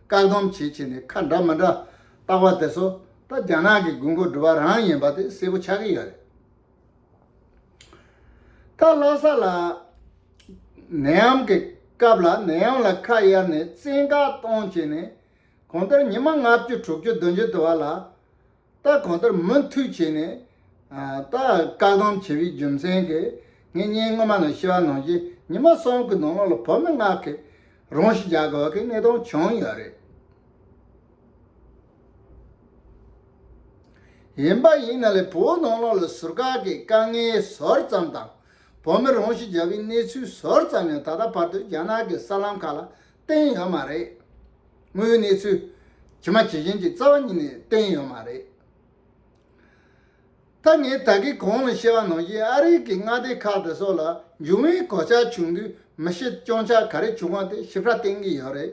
བཀག་སྡོམ་བྱེད་ཆེད་ནས་ཁ་འདྲ་མི་འདྲ་བཏགས་པ་དེ་ཚོ་ད་རྒྱ་ནག་གི་དགོས་མཁོ་སྒྲུབ་པ་རང་ཡིན་པ་དེ་གསལ་པོ་ཆགས་ཀྱི་ཡོད་རེད། ད་ལྷ་ས་ལ་ནད་ཡམས་ཀྱི་སྐབས་ལ་ནད་ཡམས་ལ་ཁ་གཡར་ནས་བཙན་བཀག་གཏོང་བྱས་ནས་གང་ལྟར་ཉི་མ་ལྔ་བཅུ་དྲུག་བཅུ་བདུན་བཅུ་དུ་བ་ལ་ད་གང་ལྟར་མུ་མཐུད་བྱས་ནས་ད་བཀག་སྡོམ་བྱས་པའི་རྒྱུ་མཚན་གྱིས་ངས་ཉིན་སྔོན་མ་ནང་ཤི་བ་ནང་བཞིན་ཉི་མ་གསུམ་གྱི་ནང་ལོགས་ལ་བོད་མི་ལྔ་གི་རང་ཤི་རྒྱག་དགོས་པའི་གནས་སྟངས་བྱུང་ཡོད་རེད། ཡིན་པ་ཡིན་ན་ལས་བུའི་ནོར་ལོག་ལ་ཟུར་བཀག་གི་དཀའ་ངལ་ཟོར་ཙམ་དང་བོ་མི་རུང་ཞིག་རྒྱ་བའི་གནས་ཚུལ་ཟོར་ཙམ་ཡང་ད་ལྟ་བར་དུ་རྒྱ་ནག་གི་གསར་ལམ་ཁག་ལ་བསྟན་ཡོད་མ་རེད། དངོས་གནས་ཚུལ་ཇི་མ་ཇི་བཞིན་གྱི་རྩ་བ་ཉིད་ནས་བསྟན་ཡོད་མ་རེད། ད་ངས་ད་གིས་གོང་ལ་བཤད་བ་ནང་བཞིན་ཨ་རིག་གི་མངའ་སྡེ་ཁག་དེ་སོགས་ལ་འབྱུང་བའི་གོད་ཆག་བྱུང་དུས་མི་ཤི་གཅོང་ཆག་ག་རེ་བྱུང་བ་དེ་ཞིབ་ཕྲ་བསྟན་གྱི་ཡོད་རེད།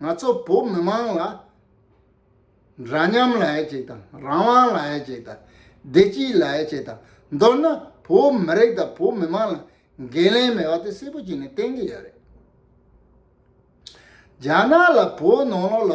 ང་ཚོ་བོད་མི་དམངས་ལ་འདྲ་མཉམ་ལ་ཡིད་ཆེས་དང་རང་དབང་ལ་ཡིད་ཆེས་དང་བདེ་སྐྱིད་ལ་ཡིད་ཆེས་དང་མདོར་ན་བོད་མི་རིགས་དང་བོད་མི་དམངས་ལ་འགན་ལེན་མེད་པ་དེ་གསལ་པོ་བྱས་ནས་བསྟན་གྱི་ཡོད་རེད། རྒྱ་ནག་ལ་བོད་ནང་ལོགས་ལ།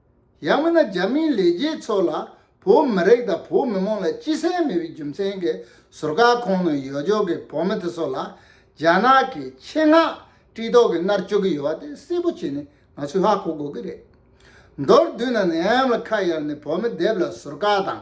ཡང་མིན་ན་རྒྱ་མིའི་ལས་བྱེད་ཚོ་ལ་བོད་མི་རིགས་དང་བོད་མི་མང་ལ་སྤྱི་སེམས་མེད་པའི་རྒྱུ་མཚན་གྱི་ཟུར་བཀག་ཁོང་ནང་ཡོད་ཆོག་གི་བོད་མི་དེ་ཚོ་ལ་རྒྱ་ནག་གི་ཆེད་མངགས་དཀྲིས་ཐོག་གི་མནར་གཅོད་ཀྱི་ཡོད་བ་དེ་གསལ་པོ་བྱས་ནས་ང་ཚོས་ཧ་གོ་དགོས་ཀྱི་རེད། མདོར་བསྡུས་ན་ནི་ཨམ་ལ་ཁ་གཡར་ནས་བོད་མི་དེབ་ལ་ཟུར་བཀག་དང།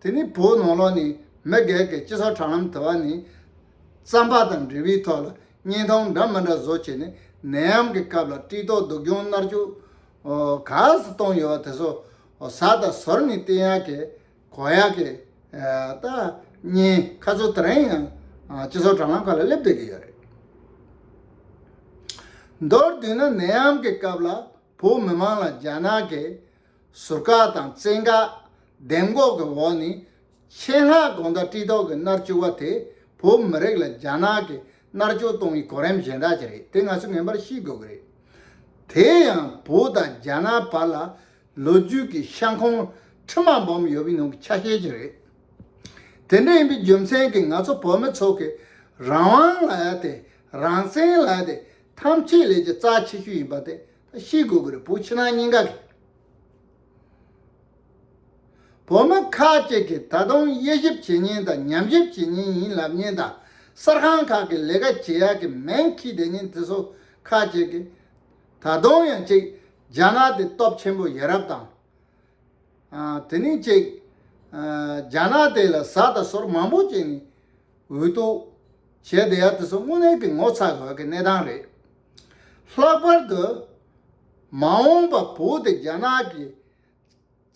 དེ་ནི་བོད་ནང་ལོགས་ནས་མི་སྒེར་གྱི་སྤྱི་ཚོགས་དྲ་ལམ་དུ་བ་ནི་རྩམ་པ་དང་འབྲས་བུའི་ཐོག་ལ་བརྙན་ཐུང་འདྲ་མི་འདྲ་བཟོ་བྱས་ནས་ནད་ཡམས་ཀྱི་སྐབས་ལ་དཀྲིས་ཐོག་སྡུག་གྱོང་མནར་གཅོད་ག་ས་གཏོང་ཡོད་བ་དེ་ཚོ་ཟ་དང་ཟོར་ནི་བསྟེན་ཡག་གི་གོ་ཡག་གི་ད་བརྙན་ཁ་ཚོ་དེ་རིང་ཡང་སྤྱི་ཚོགས་དྲ་ལམ་ཁག་ལ་སླེབས་སྡོད་ཀྱི་ཡོད་རེད་མདོར་བསྡུས་ན་ནད་ཡམས་ཀྱི་སྐབས་ལ། བོད་མི་མང་ལ་རྒྱ་ནག་གི་ཟུར་བཀག་དང་བཙན་བཀག་གདེང་འགོག་གི་འོག་ནས་ཆེད་མངགས་དགོངས་དག་དཀྲི་དོགས་ཀྱི་མནར་གཅོད་བ་དེ་བོད་མི་རིགས་ལ་རྒྱ་ནག་གི་མནར་གཅོད་གཏོང་བའི་གོ་རིམ་གཞན་དག་ཅིག་རེད་དེ་ང་ཚོས་ངེས་པར་ཤེས་དགོས་ཀྱི་རེད། དེ་ཡང་བོད་དང་རྒྱ་ནག་བར་ལ་ལོ་རྒྱུས་ཀྱི་ཤང་ཁོང་ཁྲི་མ་འབུམ་ཡོད་པའི་ནང་གི་ཆ་ཤས་ཅིག་རེད། དེ་འདྲ་ཡིན་པའི་རྒྱུ་མཚན་གྱིས་ང་ཚོ་བོད་མི་ཚོ་གིས་རང་དབང་ལ་ཡ་དེ་རང་བཙན་ལ་ཡ་དེ་ཐམས་ཅད་ལས་ཀྱི་རྩ་ཆེ་ཤོས་ཡིན་པ་དེ་ཤེས་དགོས་ཀྱི་རེད་བུ་ཕྱི་ནང་གཉིས་ཀ་གི་བོད་མི་ཁག་ཅིག་གིས་ད་དུང་དབྱེ་ཞིབ་བྱེད་ཉིན་དང་ཉམས་ཞིབ་བྱེད་ཉིན་ཡིན་ལབ་ཉིན་དང་གསར་ཁང་ཁག་གི་ལས་ཀ་བྱེད་ཡག་གི་མེན་ཁྱི་དེ་ཉིན་དེ་སོ་ཁག་ཅིག་གིས་ད་དུང་ཡང་ཅིག་རྒྱ་ནག་དེ་སྟོབས་ཆེན་པོ་ཡ་རབས་དང། དེ་ནི་ཅིག་རྒྱ་ནག་དེ་ལ་ཟ་དང་ཟོར་མང་པོ་བྱེད་ནི་འོས་ལྟོ། བྱས་འདི་ཡ་དེ་ཚོ་དངོས་གནས་ཀྱི་ངོ་ཚ་དགོས་ཀྱི་གནས་སྟངས་རེད། ལྷག་པར་དུ། མ་འོངས་པ་བུ་དེ་རྒྱ་ནག་གི་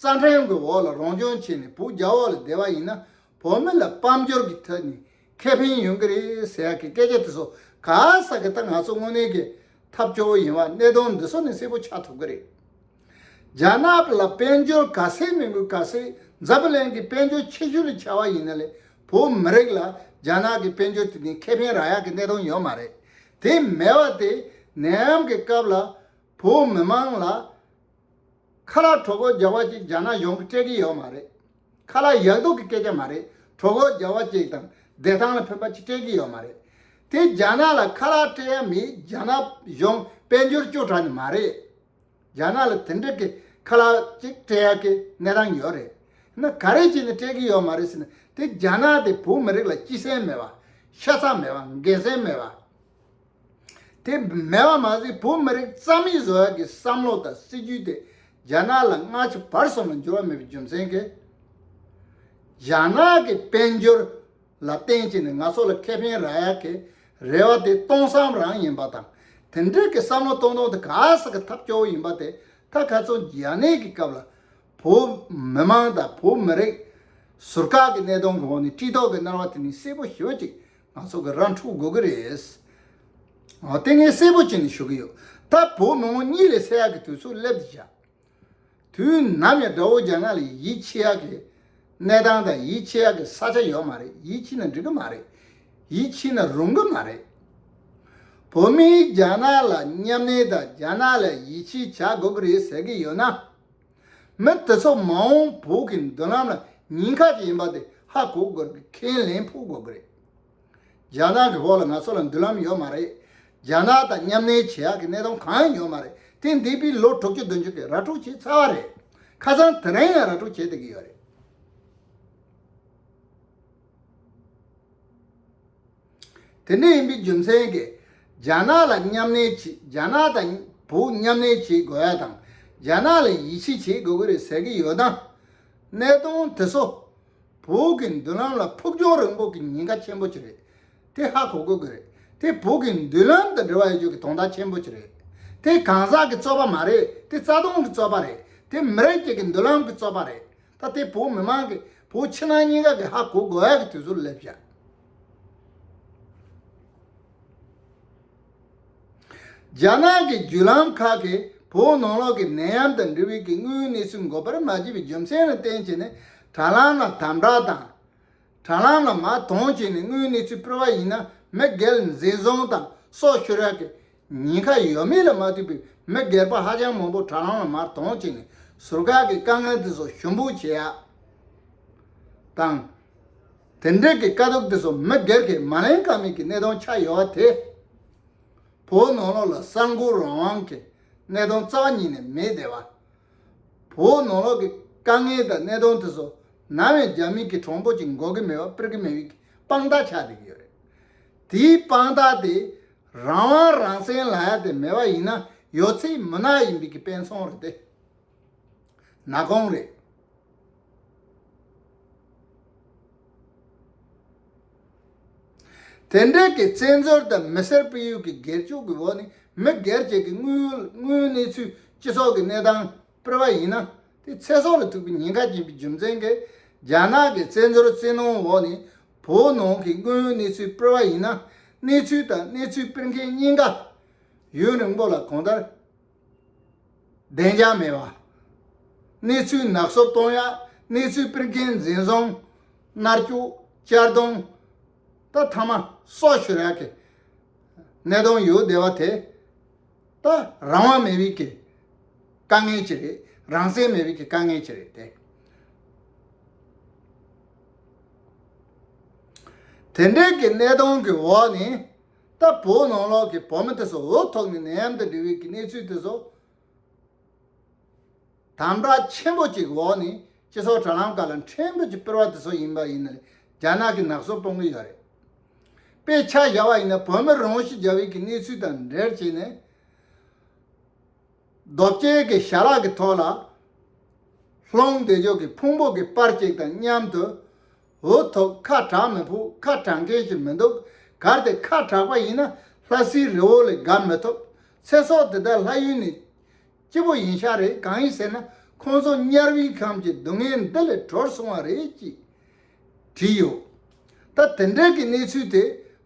རྩ་ཁྲིམས་ཀྱི་འོག་ལ་རང་སྐྱོང་བྱས་ནས་བུ་རྒྱ་འོག་ལ་བསྡད་པ་ཡིན་ན་བོད་མི་ལ་དཔལ་འབྱོར་གྱི་ཐད་ནས་ཁེ་ཕན་ཡོང་གི་རེད་ཟེར་ཡག་གི་སྐད་ཆ་དེ་ཚོ་ག་ས་གི་ད་ང་ཚོ་དངོས་གནས་ཀྱི་ཐབས་སྐྱོ་བོ་ཡིན་བ་གནས་སྟངས་འདི་ཚོ་ནས་གསལ་པོ་ཆགས་ཐུབ་ཀྱི་རེད། རྒྱ་ནག་ལ་དཔལ་འབྱོར་ག་ཟེ་མི་འབུད་ག་ཟེ་འཛབ་པ་ལན་གི་དཔལ་འབྱོར་ཆེ་ཤོས་ལ་བྱ་བ་ཡིན་ན་ལས་བོད་མི་རིགས་ལ་རྒྱ་ནག་གི་དཔལ་འབྱོར་དེ་ནི་ཁེ་ཕན་རག་ཡག་གི་གནས་སྟངས་ཡོད་མ་རེད་དེ་མེད་བ་དེ་ནད་ཡམས་གི་སྐབས་ལ་བོད་མི་མང་ལ་ཁ་ལག་གྲོ་གོ་རྒྱག་བ་ཅིག་རྒྱ་ནག་གཞུང་གི་སྤྲད་གི་ཡོད་མ་རེད་ཁ་ལག་ཡག་སྡུག་གི་སྐད་ཆ་མ་རེད་གྲོ་གོ་རྒྱག་བ་ཅིག་དང་བདེ་ཐང་ལ་ཕན་པ་ཅིག་སྤྲད་གི་ཡོད་མ་རེད་དེ་རྒྱ་ནག་ལ་ཁ་ལག་སྤྲད་ཡ་མི་རྒྱ་ནག་གཞུང་དཔལ་འབྱོར་སྐྱོ་དྲག་ནི་མ་རེད། རྒྱ་ནག་ལ་དེ་འདྲ་གི་ཁ་ལག་ཅིག་སྤྲད་ཡག་གི་གནས་སྟངས་ཡོད་རེད་ན་ག་རེ་བྱས་ནས་སྤྲད་གི་ཡོད་མ་རེད་ཟེར་ན་དེ་རྒྱ་ནག་དེ་བོད་མི་རིགས་ལ་སྐྱི་སེམས་མེད་པ། ཤ་ཚ་མེད་པ་འགན་སེམས་མེད་པ། དེ་མེད་པ་མ་ཟད་བོད་མི་རིགས་རྩ་མེད་བཟོ་ཡག་གི་བསམ་བློ་དང་སྲིད་ཇུས་དེ་རྒྱ་ནག་ལ་སྔ་ཕྱི་བར་གསུམ་ལ་འགྱུར་བ་མེད་པའི་རྒྱུ་མཚན་གྱིས་རྒྱ་ནག་གི་དཔལ་འབྱོར་ལ་བརྟེན་བྱས་ནས་ང་ཚོ་ལ་ཁེ་ཕན་རག་ཡག་གི་རེ་བ་དེ་སྟོང་བསམ་རང་ཡིན་པ་དང་དེ་འབྲེལ་གྱི་བསམ་བློ་གཏོང་སྟངས་དེ་ག་ས་གི་ཐབས་སྐྱོ་བོ་ཡིན་པ་དེ་ད་ག་ཚོད་རྒྱ་ནད་ཀྱི་སྐབས་ལ་བོད་མི་མང་དང་བོད་མི་རིགས་ཟུར་བཀག་གི་གནད་དོན་གོང་ནས་སྤྱི་ལྡོག་གི་གནར་བ་དེ་ནི་གསལ་པོ་ཞོད་ཅིག་ང་ཚོ་གི་ར་འཕྲུག་དགོས་ཀྱི་རེད། ཨོ་དེ་ངས་གསལ་པོ་བྱས་ནས་ཞུ་གི་ཡོད་ད་བོད་མི་མོ་གཉིད་ལས་སད་ཡག་གི་དུས་ཚོད་སླེབས་འདི་བཞག་དུས་ནམ་ཡང་དགྲ་བོ་རྒྱ་ནག་ལ་ཡིད་ཆེས་ཡག་གི་གནས་སྟངས་དང་ཡིད་ཆེས་ཡག་གི་ས་ཆ་ཡོད་མ་རེད་ཡིད་ཆེས་ན་འགྲིག་གི་མ་རེད་ཡིད་ཆེས་ན་རུང་གི་མ་རེད། བོད་མིའི་རྒྱ་ནག་ལ་མཉམ་གནས་དང་རྒྱ་ནག་ལ་ཡིད་ཆེས་བྱ་དགོས་གི་རེད་ཟེར་གི་ཡོད་ན། མི་དེ་ཚོ་མ་འོངས་བོད་ཀྱི་མདུན་ལམ་ལ་ཉེན་ཁ་ཅིག་ཡིན་པ་དེ་ཧ་གོ་དགོས་གི་ཁས་ལེན་ཕོག་དགོས་གི་རེད། རྒྱ་ནག་གི་འོག་ལ་ང་ཚོ་ལ་མདུན་ལམ་ཡོད་མ་རེད། རྒྱ་ནག་དང་མཉམ་གནས་བྱེད་ཡག་གི་གནས་སྟངས་གང་ཡང་ཡོད་མ་རེད་དེ་འདས་པའི་ལོ་དྲུག་ཅུ་བདུན་ཅུ་གི་ར་སྤྲོད་བྱས་ཚར་བ་རེད། ཁ་སང་དེ་རིང་ཡང་ར་སྤྲོད་བྱེད་བསྡད་ཀྱི་ཡོད་རེད། དེ་འདྲ་ཡིན་པའི་རྒྱུ་མཚན་གྱིས་རྒྱ་ནག་ལ་མཉམ་གནས་བྱེད་རྒྱ་ནག་དང་བོ་མཉམ་གནས་བྱེད་དགོས་ཡ་དང་རྒྱ་ནག་ལ་ཡིད་ཆེས་བྱེད་དགོས་ཀྱི་རེད་ཟེར་གྱི་ཡོད་ན། གནས་སྟངས་དེ་ཚོ་བོད་ཀྱི་མདུན་ལམ་ལ་ཕུགས་རྒྱང་རིང་པོ་གི་ཉེན་ཁ་ཆེན་པོ་ཅིག་རེད། དེ་ཧ་གོ་དགོས་ཀྱི་རེད། དེ་བོད་ཀྱི་མདུན་ལམ་དང་འབྲེལ་བ་ཡོད་རྒྱུ་གི་དོན་དག་ཆེན་པོ་ཅིག་རེད། དེ་གང་ཟག་གི་རྩོད་པ་མ་རེད་དེ་རྩ་དོན་གྱི་རྩོད་པ་རེད། དེ་མི་རིགས་གཅིག་གི་མདུན་ལམ་གྱི་རྩོད་པ་རེད། ད་དེ་བོད་མི་མང་གི་བོད་ཕྱི་ནང་གཉིས་ཀ་གི་ཧ་གོ་དགོས་ཡག་གི་དུས་ཚོད་སླེབས་ཤག། རྒྱ་ནག་གི་བརྒྱུད་ལམ་ཁག་གིས་བོད་ནང་ལོགས་ཀྱི་ནད་ཡམས་དང་འབྲེལ་བའི་གི་དངོས་ཡོད་གནས་ཚུལ་འགོ་པར་མ་བྱས་པའི་རྒྱུ་མཚན་ལ་བརྟེན་བྱས་ནས་དྲ་ལམ་ལ་དམ་བསྒྲགས་དང། དྲ་ལམ་ལ་མ་མཐོང་བྱས་ནས་དངོས་ཡོད་གནས་ཚུལ་སྤེལ་བ་ཡིན་ན་མི་སྒེར་འཛིན་བཟུང་དང་སོགས་ཤོར་ཡག་གི་ཉེན་ཁ་ཡོད་མེད་ལ་མ་ལྟོས་པའི་མི་སྒེར་པ་ཧ་ཅང་མང་པོ་དྲ་ལམ་ལ་མ་མཐོང་བྱས་ནས་ཟུར་བཀག་གི་དཀའ་ངལ་དེ་ཚོ་ཞུ་འབོད་བྱས་ཡག་དང། དེ་འབྲེལ་གྱི་དཀའ་སྡུག་དེ་ཚོ་མི་སྒེར་གྱིས་མ་གླེང་ཀ་མེད་ཀྱི་གནད་དོན་ཆགས་ཡོད་པ་དེས། བོད་ནང་ལོགས་ལ་གསར་འགོད་རང་དབང་གི་གནད་དོན་རྩ་བ་ཉིད་ནས་མེད་བསྡད་པ། བོད་ནང་ལོགས་ཀྱི་དཀའ་ངལ་དང་གནད་དོན་དེ་ཚོ་ནང་བའི་རྒྱ་མི་གྱི་གྲོགས་པོ་གཅིག་འགོག་གི་མེད་པ་སྤེལ་གི་མེད་པའི་དཔང་རྟགས་ཆགས་བསྡད་ཀྱི་ཡོད་རེད། དེའི་དཔང་རྟགས་དེ་རང་དབང་རང་བཙན་ལ་ཡ་དེ་མེད་པ་ཡིན་ན་ཡོད་ཚད་མུན་ནག་ཡིན་པའི་གི་དཔེ་མཚོན་རེད་དེ། ན་དགོངས་རེད། དེ་འབྲེལ་གྱི་བཙན་འཛུལ་དང་མི་སེར་སྤེལ་ཡུལ་གྱི་སྒེར་སྤྱོད་ཀྱི་འོག་ནས་མི་སྒེར་བཅས་ཀྱི་དངོས་ཡོད་གནས་ཚུལ་སྤྱི་ཚོགས་ཀྱི་གནས་སྟངས་སྤེལ་བ་ཡིན་ན། དེ་ཚེ་སྲོག་ལ་ཐུག་པའི་ཉེན་ཁ་སྐྱེན་པའི་རྒྱུ་མཚན་གྱིས་རྒྱ་ནག་གི་བཙན་འཛུལ་བཙན་གནོན་འོག་ནས་བོད་ནང་གི་དངོས་ཡོད་གནས་ཚུལ་སྤེལ་བ་ཡིན་ན། གནས་ཚུལ་དང་གནས་ཚུལ་སྤེལ་མཁན་གཉིས་ཀ་ཡུན་རིང་པོ་ལ་གང་ལྟར། བདེ་འཇགས་མེད་པ། གནས་ཚུལ་ནག་གསོབ་གཏོང་ཡག་གནས་ཚུལ་སྤེལ་མཁན་འཛིན་བཟུང། མནར་སྐྱུག། གཅར་རྡུང། ད་ཐ་མ་སོགས་ཤོད་ཡག་གི་གནས་སྟངས་ཡོད་བསྡད་པ་དེ། ད་རང་དབང་མེད་པའི་གི་དཀའ་ངལ་གྱི་རེད་རང་བསྲེག་མེད་པའི་གི་དཀའ་ངལ་གྱི་རེད་དེ། དེ་འདྲའི་གི་གནས་སྟངས་ཀྱི་འོག་ནས། ལྟ་བུ་ནང་ལོགས་ཀྱི་བོགས་མི་ཐེག་སོགས་འོས་ཐོབ་ནས་ནད་ཡམས་དང་འབྲེལ་བའི་གནས་ཚུལ་དེ་ཚོ་དམ་དྲག་ཆེན་པོ་གཅིག་གི་འོག་ནས་སྤྱི་ཚོགས་དྲ་ལམ་ཁག་ལ་འཕྲལ་འབུད་ཀྱིས་སྤེལ་བ་དེ་ཚོ་ཡིན་པ་ཡིན་ན་རྒྱ་ནག་གིས་ནག་གསུབ་གཏོང་གི་ཡོད་རེད། དཔེ་ཆ་བཞག་པ་ཡིན་ན་བོད་མི་རང་ཤི་རྒྱ་བོད་ཀྱི་གནས་ཚུལ་དང་འབྲེལ་བྱས་ནས། རྡོ་གཅལ་གྱི་ཞལ་ལག་གི་ཐོག་ལ་ལྷུང་སྟེ་གཡོག་གི་ཕུང་པོ་གི་པར་ཅིག་དང་མཉམ་དུ་འུ་ཐུག་ཁ་གྲགས་མི་ཕུག་ཁ་གྲགས་མཁན་ཞིག་མི་འདུག་གར་དེ་ཁ་གྲགས་པ་ཡིན་ན་ལྷ་སའི་རི་བོ་ལས་འགབ་མི་ཐུབ་ཚེ་སྲོག་དེ་དག་ལྷ་ཡུལ་ནས་སྐྱིད་པོ་ཡིན་ཤག་རེད་གང་ཡིན་ཟེར་ན་ཁོང་ཚོ་དམྱལ་བའི་ཁམས་ཀྱི་སྡུག་བསྔལ་འདི་ལས་གྲོལ་སོང་བ་རེད་ཅེས་བྲིས་ཡོད། ད་དེ་འབྲེལ་གྱི་གནས་ཚུལ་དེ་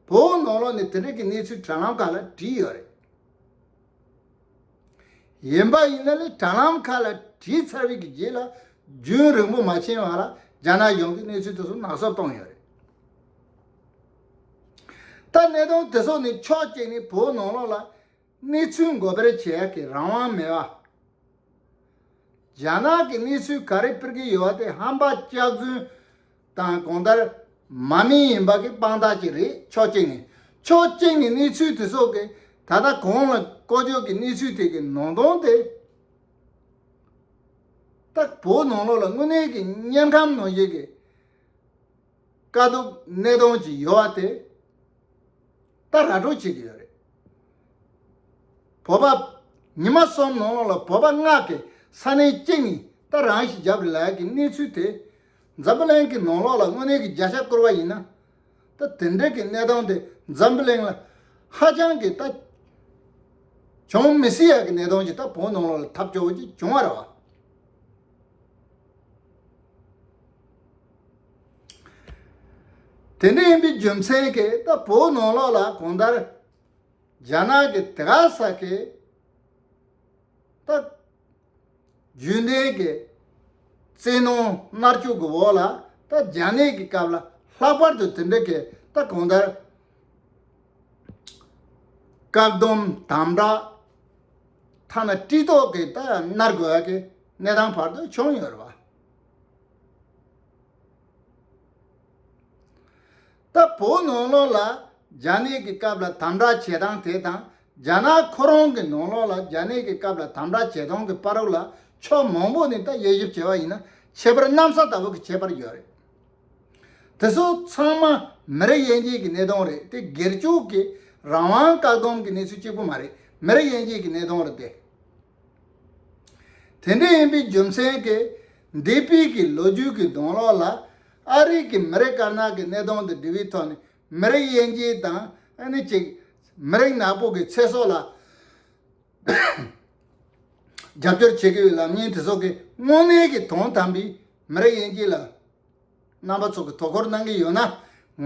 བོད་ནང་ལོགས་ནས་དེ་འབྲེལ་གྱི་གནས་ཚུལ་དྲ་ལམ་ཁག་ལ་བྲིས་ཡོད་རེད། ཡིན་པ་ཡིན་ན་ལས་དྲྭ་ལམ་ཁག་ལ་བྲིས་ཚར་བའི་རྗེས་ལ་རྒྱུན་རིང་པོ་མ་ཕྱིན་བར་རྒྱ་ནག་གཞུང་གིས་གནས་ཚུལ་དེ་ཚོ་ནག་གསོབ་གཏོང་ཡོད་རེད། ད་གནས་སྟངས་དེ་ཚོ་ནི་ཕྱོགས་གཅིག་ནས་བོད་ནང་ལོགས་ལ་གནས་ཚུལ་འགོ་སྤེལ་བྱེད་ཡག་གི་རང་དབང་མེད། རྒྱ་ནག་གི་གནས་ཚུལ་ག་རེ་སྤེལ་གྱི་ཡོད་པ་དེ་ཧམ་པ་སྐྱག་རྫུན་དང་གང་ལྟར། མ་མིང་ཡིན་པ་གི་དཔང་རྟགས་ཅིག་རེད་ཕྱོགས་གཅིག་ནས། ཕྱོགས་གཅིག་ནས་གནས་ཚུལ་དེ་སོགས་ཀྱི་ད་ལྟ་གང་ལ་ཀོ་ཇོ་གི་གནས་ཚུལ་དེ་གི་ནང་དོན་དེ། སྟག་ཕོ་ནང་ལོག་ལ་དངོས་གནས་གི་དམྱལ་ཁམས་ནང་བཞིན་གི། དཀའ་སྡུག་གནས་སྟངས་ཅིག་ཡོད་བ་དེ། ད་ར་སྤྲོད་བྱེད་ཀྱི་ཡོད་རེད། བོད་པ། ཉི་མ་གསུམ་ནང་ལོག་ལ་བོད་པ་སྔགས་ཀྱི་ས་གནས་གཅིག་ནས་ད་རང་ཞིག་རྒྱབ་རི་ལགས་ཀྱི་གནས་ཚུལ་དེ། འཛམ་བུ་གླིང་གི་ནང་ལོགས་ལ་དངོས་གནས་ཀྱི་བརྒྱ་ཆ་བསྐུར་བ་ཡིན་ན། ད་དེ་འདྲས་ཀྱི་གནས་སྟངས་དེ་འཛམ་བུ་གླིང་ལ་ཧ་ཅང་གི་ལྟ། བྱུང་མི་སྲིད་ཡ་གི་གནས་སྟངས་ཀྱི་ལྟ་བོང་ནང་ལོགས་ལ་ཐབས་སྐྱོ་བོ་ཅིག་བྱུང་བ་རེད་བ། དེ་འདྲས་ཡིན་པའི་རྒྱུ་མཚན་གྱི་ལྟ་བོང་ནང་ལོགས་ལ་གང་ལྟར་རྒྱ་ནག་གི་དེ་ག་ས་གི་ལྟ། རྒྱུན་ལྡན་གྱི་རྩེད་ནོར་མནར་གཅོད་ཀྱི་འོག་ལ་ད་རྒྱ་ནད་ཀྱི་སྐབས་ལ་ལྷག་པར་དུ་དེ་འདྲ་གི་ད་གང་ལྟར་བཀག་སྡོམ་དམ་དྲག་ཐ་ན་བཀྲིས་ལྟོགས་ཀྱིས་ད་མནར་དགོས་ཀྱི་གནས་སྟངས་བར་དུ་བྱུང་ཡོད་རེད། ད་བོ་ནོར་ལོག་ལ་རྒྱ་ནད་ཀྱི་སྐབས་ལ་དམ་དྲག་བྱེད་སྟངས་དེ་དང་རྒྱ་ནག་ཁོ་རང་གི་ནོར་ལོག་ལ་རྒྱ་ནད་ཀྱི་སྐབས་ལ་དམ་དྲག་བྱེད་སྟངས་ཀྱི་པར་རོ་ལ་ཕྱོགས་མང་པོ་ནས་ད་དབྱེ་ཞིབ་བྱས་པ་ཡིན་ན་ཁྱད་པར་གནམ་ས་ལྟ་བུ་གི་ཁྱད་པར་ཡོད་རེད། དེ་ཚོ་ཚང་མ་མི་རིགས་དབྱེ་འབྱེད་ཀྱི་གནས་སྟངས་རེད་དེ་སྒེར་སྤྱོད་ཀྱི་རང་དབང་བཀག་སྡོམ་གྱི་གནས་ཚུལ་གཅིག་པུ་མ་རེད་མི་རིགས་དབྱེ་འབྱེད་ཀྱི་གནས་སྟངས་རེད་དེ། དེ་འདྲ་ཡིན་པའི་རྒྱུ་མཚན་གྱིས་འདས་པའི་གི་ལོ་རྒྱུས་ཀྱི་གདོང་ལོག་ལ། ཨ་རིག་གིས་མི་རིགས་དཀར་ནག་གི་གནས་སྟངས་དང་འབྲེལ་བའི་ཐོག་ནས་མི་རིགས་དབྱེ་འབྱེད་དང་ནི་གཅིག། མི་རིགས་ནག་པོ་གི་ཚེ་སྲོག་ལ་རྒྱབ་སྐྱོར་བྱེད་དགོས་པའི་ལམ་སྙིང་དེ་སོགས་ཀྱི་དངོས་གནས་ཀྱི་དོན་དམ་པའི་མི་རིགས་དབྱེ་འབྱེད་ལ་རྣམ་པ་ཚོགས་ཀྱི་དོ་ཁུར་གནང་གི་ཡོད་ན།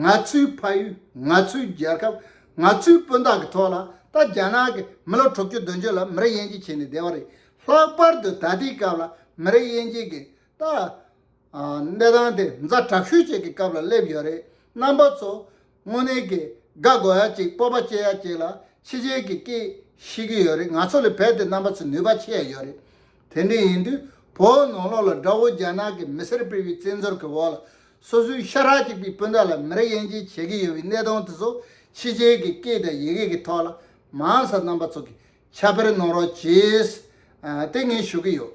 ང་ཚོའི་ཕ་ཡུལ་ང་ཚོའི་རྒྱལ་ཁབ་ང་ཚོའི་སྤུན་ཟླ་གི་ཐོག་ལ་ད་རྒྱ་ནག་གིས་མི་ལོ་དྲུག་ཅུ་བདུན་ཅུ་ལ་མི་རིགས་དབྱེ་འབྱེད་བྱས་ནས་བསྡད་པ་རེད། ལྷག་པར་དུ་ད་ལྟའི་སྐབས་ལ་མི་རིགས་དབྱེ་འབྱེད་ཀྱི་ད། གནས་སྟངས་དེ་མཛའ་དྲག་ཤོས་བཅས་ཀྱི་སྐབས་ལ་སླེབས་ཡོད་རེད་རྣམ་པ་ཚོ་དངོས་གནས་ཀྱི་དགའ་དགོས་ཡ་གཅིག་སྤོབས་པ་སྐྱེ་ཡ་གཅིག་ལ་ཕྱི་རྒྱལ་གྱི་སྐད་ཤེས་ཀྱི་ཡོད་རེད་ང་ཚོ་ལས་བལ་དེ་རྣམ་པ་ཚོས་ནུས་པ་ཆེ་ཡ་ཡོད་རེད་དེ་འདྲ་ཡིན་དུས་བོད་ནང་ལོགས་ལ་དགྲ་བོ་རྒྱ་ནག་གི་མི་སེར་སྤེལ་བའི་བཙན་འཛུལ་གྱི་འོག་ལ་སོ་སོའི་ཤ་ཁྲག་གཅིག་པའི་སྤུན་ཟླ་ལ་མི་རེ་དབྱེ་འབྱེད་བྱེད་ཀྱི་ཡོད་པའི་གནས་སྟངས་དེ་ཚོ་ཕྱི་རྒྱལ་གྱི་སྐད་དང་ཡི་གེ་གི་ཐོག་ལ་མང་ས་རྣམ་པ་ཚོ་གིས་ཁྱབ་སྤེལ་གནང་རོགས་གྱིས་དེ་ངས་ཞུ་གི་ཡོད།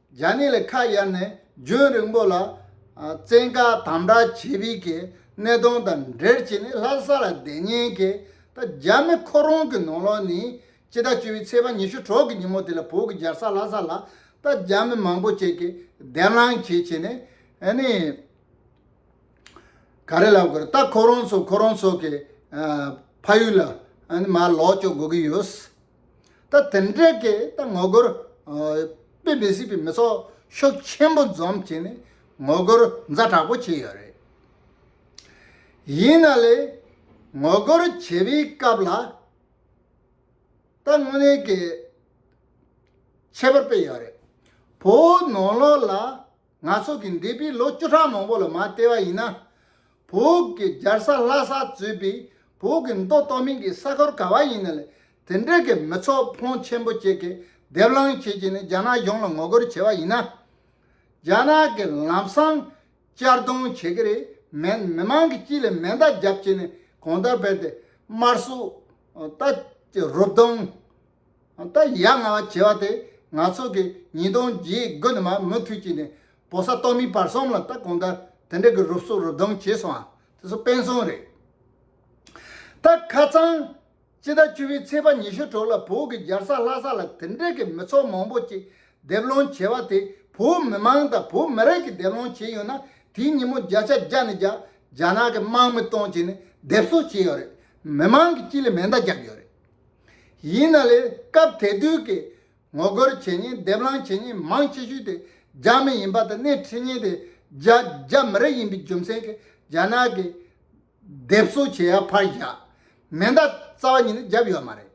རྒྱ་ནི་ལས་ཁ་གཡར་ནས་རྒྱུན་རིང་པོ་ལ་བཙན་བཀའ་དམ་དྲག་བྱེད་རིགས་ཀྱི་གནས་སྟངས་དང་འབྲེལ་བྱས་ནས་ལྷ་ས་ལ་བསྡད་ཉེན་ཁའི་ད་རྒྱ་མི་ཁོ་རང་གི་ནང་ལོགས་ནས་སྤྱི་ཟླ་བཅུ་བའི་ཚེས་པ་ཉི་ཤུ་དྲུག་གི་ཉིན་མོ་དེ་ལ་བོད་ཀྱི་རྒྱལ་ས་ལྷ་ས་ལ་ད་རྒྱ་མི་མང་པོ་བཅས་ཀྱིས་བདེན་ལངས་བྱེད་བྱས་ནས་ནི། ག་རེ་ལབ་དགོས་རེད་ད་ཁོ་རང་ཚོ་ཁོ་རང་ཚོ་གི་ཕ་ཡུལ་ལ་ནི་མར་ལོག་བཅོག་དགོས་ཀྱི་ཡོད། ད་དེ་འདྲའི་གི་ད་ངོ་རྒོལ་དཔེ་མི་སྲིད་པའི་མི་ཚོགས་ཤོག་ཆེན་པོ་འཛོམས་བྱས་ནས་ངོ་རྒོལ་མཛའ་དྲག་པོ་བྱས་ཡོད་རེད། ཡིན་ན་ལས་ངོ་རྒོལ་བྱེད་པའི་སྐབས་ལ་ད་དངོས་གནས་ཀྱི་ཁྱད་པར་དཔེ་ཡོད་རེད། བོད་ནང་ལོགས་ལ་ང་ཚོ་གི་འདས་པའི་ལོ་བཅུ་ཕྲག་མང་པོ་ལ་མ་བལྟས་པ་ཡིན་ན་བོད་ཀྱི་རྒྱལ་ས་ལྷ་ས་གཙོས་པའི་བོད་ཀྱི་མདོ་སྟོད་མིང་གི་ས་གོར་ག་བ་ཡིན་ན་ལས་དེ་འབྲེལ་གྱི་མི་ཚོགས་ཕོངས་ཆེན་པོ་བཅས་ཀྱི་སྡེབ་ལངས་བྱེད་ཀྱི་ནི་རྒྱ་ནག་གཞུང་ལ་ངོ་རྒོལ་བྱེད་པ་ཡིན་ན། རྒྱ་ནག་གི་ལམ་སང་གཅར་རྡུང་བྱེད་ཀྱི་རེད་མེད་མི་མང་གི་སྤྱི་ལ་མེ་མདའ་བརྒྱབ་བྱས་ནས་གང་ལྟར་བལ་ཏེ་དམར་སུ་ལྟ་རུབ་རྡུང། ད་ཡ་ང་བ་བྱེད་བ་དེ་ང་ཚོ་གི་ཉིས་སྟོང་བརྒྱད་དགུ་ནི་མ་མུ་མཐུད་ཀྱི་ནི་བོ་ས་ཏོ་མི་བར་གསུམ་ལ་ད་གོང་ད་དེ་འདྲ་གི་རུབ་གསུབ་རུབ་རྡུང་བྱེད་སོང་ཨ་དེ་ཚོ་དཔེ་མཚོན་རེད། ད་ཁ་ཚང། སྤྱི་ཟླ་བཅུ་བའི་ཚེས་པ་ཉི་ཤུ་དྲུག་ལ་བོད་ཀྱི་རྒྱལ་ས་ལྷ་ས་ལ་དེ་འདྲ་གི་མི་ཚོགས་མང་པོ་ཅིག་སྡེབ་ལོང་བྱེད་བ་དེ་བོད་མི་མང་དང་བོད་མི་རིགས་ཀྱི་སྡེབ་ལོང་བྱེད་ཡོད་ན་དེའི་ཉིན་མོ་བརྒྱ་ཆ་བརྒྱ་ནི་རྒྱ་རྒྱ་ནག་གི་དམག་མི་གཏོང་བྱེད་ནི་སྡེབ་གསོད་བྱེད་ཡོད་རེད་མི་མང་གི་སྤྱི་ལ་མེ་མདའ་རྒྱག་ཡོད་རེད། ཡིན་ན་ལས་སྐབས་དེ་དུས་ཀྱི་ངོ་རྒོལ་བྱེད་ཉིན་སྡེབ་ལངས་བྱེད་ཉིན་མང་ཆེ་ཤོས་དེ་རྒྱ་མི་ཡིན་པ་དང་སྣེ་ཁྲིད་ཉིན་དེ་རྒྱ་རྒྱ་མི་རིགས་ཡིན་པའི་རྒྱུ་མཚན་གྱིས་རྒྱ་ནག་གི་སྡེབ་གསོ་བྱེད་ཡ་ཕར་བཞག་མེ་མདའ་རྩ་བ་ཉིད་ནས་བརྒྱབ་ཡོད་མ་རེད།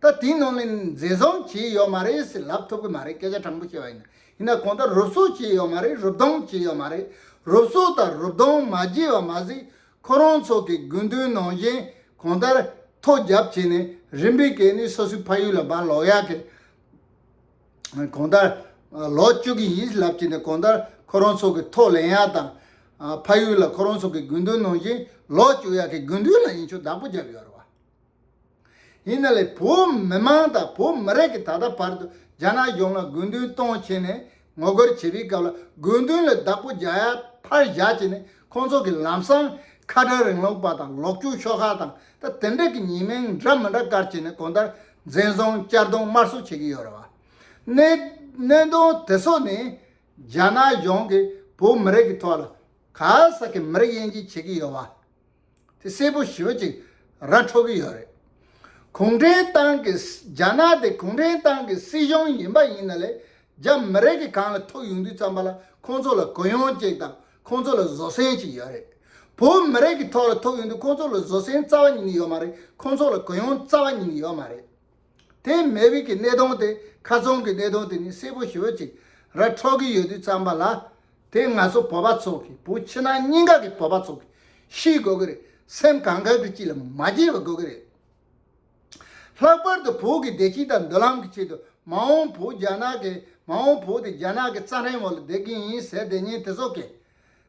ད་དེའི་ནང་ནས་འཛིན་བཟུང་བྱས་ཡོད་མ་རེད་ཟེར་ལབ་ཐུབ་ཀྱི་མ་རེད་སྐད་ཆ་དྲང་པོ་བཤད་པ་ཡིན་ན་ཡིན་ན་གོང་ད་རུབ་གསོ་བྱས་ཡོད་མ་རེད་རུབ་རྡུང་བྱས་ཡོད་མ་རེད་རུབ་གསོ་དང་རུབ་རྡུང་མ་བྱས་པ་མ་ཟད་ཁོ་རང་ཚོ་གི་དགོས་འདུན་ནང་བཞིན་གང་ལྟར་ཐོག་རྒྱབ་བྱས་ནས་རིམ་པས་གད་སྣི་སོ་སོའི་ཕ་ཡུལ་ལ་འབར་ལོག་ཡག་གི། གང་ལྟར་ལོག་བཅུག་གི་ཡིན་ལབ་བྱས་ནས་གང་ལྟར་ཁོ་རང་ཚོ་གི་ཐོག་ལེན་ཡག་དང། ཕ་ཡུལ་ལ་ཁོ་རང་ཚོ་གི་དགོས་འདུན་ནང་བཞིན་ལོག་བཅུག་ཡག་གི་དགོས་འདུན་ལ་ཡིན་ཆོག་བདག་པོ་རྒྱབ་ཡོད་རེད་བ། ཡིན་ན་ལས་བོད་མི་མང་དང་བོད་མི་རིགས་ཀྱི་ད་ལྟ་བར་དུ་རྒྱ་ནག་གཞུང་ལ་དགོས་འདུན་གཏོང་བྱས་ནས་ངོ་རྒོལ་བྱེད་པའི་སྐབས་ལ་དགོས་འདུན་ལ་བདག་པོ་རྒྱ་ཡ་ཕར་བཞག་བྱས་ནས་ཁོང་ཚོ་གི་ལམ་སང་ཁ་བྲལ་རིང་ལུགས་པ་དང་ལོག་སྤྱོད་ཤོག་ཁག་དང་ད་དེ་འབྲེལ་གྱི་ཉེས་མིང་འདྲ་མི་འདྲ་བཀར་བྱས་ནས་གོང་ལྟར་འཛིན་བཟུང་བསྐྱར་བརྡུང་དམར་གསོད་བྱེད་ཀྱི་ཡོད་རེད་བ། གནད་གནད་དོན་དེ་ཚོ་ནི་རྒྱ་ནག་གཞུང་གིས་བོད་མི་རིགས་ཀྱི་ཐོག་ལ་ག་ས་གི་མི་རིགས་དབྱེ་འབྱེད་བྱེད་ཀྱི་ཡོད་བ། དེ་གསལ་པོ་ཞོད་ཅིག་ར་འཕྲོ་གི་ཡོད་རེད། གུང་ཁྲན་ཏང་གི་རྒྱ་ནག་དེ་གུང་ཁྲན་ཏང་གི་སྲིད་གཞུང་ཡིན་པ་ཡིན་ན་ལས་རྒྱ་མི་རེ་གི་གང་ལ་ཐུག་ཡོང་དུས་ཙམ་པ་ལ་ཁོང་ཚོ་ལ་གུ་ཡངས་ཅིག་དང་ཁོང་ཚོ་ལ་བཟོ་སྲན་ཅིག་ཡོད་རེད། བོད་མི་རེ་གི་ཐོག་ལ་ཐུག་ཡོང་དུས་ཁོང་ཚོ་ལ་བཟོ་སྲན་རྩ་བ་ཉིན་ཡོད་མ་རེད་ཁོང་ཚོ་ལ་གུ་ཡངས་རྩ་བ་ཉིན་ཡོད་མ་རེད། དེས་མེ་དབྱིག་གི་གནས་སྟོང་སྟེ་ཁ་ཚོན་གྱི་གནས་སྟོང་དེ་ནི་སེར་པོ་ཞོལ་ཅིག་ར་འཕྲོག་གི་ཡོད་དུས་བརྩམས་པ་ལ། དེ་ང་ཚོ་བོད་པ་ཚོ་གི་བུ་ཕྱི་ནང་གཉིས་ཀ་གི་བོད་པ་ཚོ་གི་ཤི་དགོས་ཀྱི་རེད་སེམས་གང་དགར་གྱི་ཅི་ལ་མ་བགྱིས་པ་དགོས་ཀྱི་རེད། ལྷག་པར་དུ་བོད་ཀྱི་བདེ་སྐྱིད་དང་མདུན་ལམ་གི་ཆེད་དུ་མ་འོངས་བོད་རྒྱ་ནག་གི་མ་འོངས་བོད་དེ་རྒྱ་ནག་གི་རྩ་ཧྲེང་མོ་ལ་བསྡད་ཀྱི་ཡིན་ཟེར་བསྡད་ཉན་དེ་ཚོ་གས།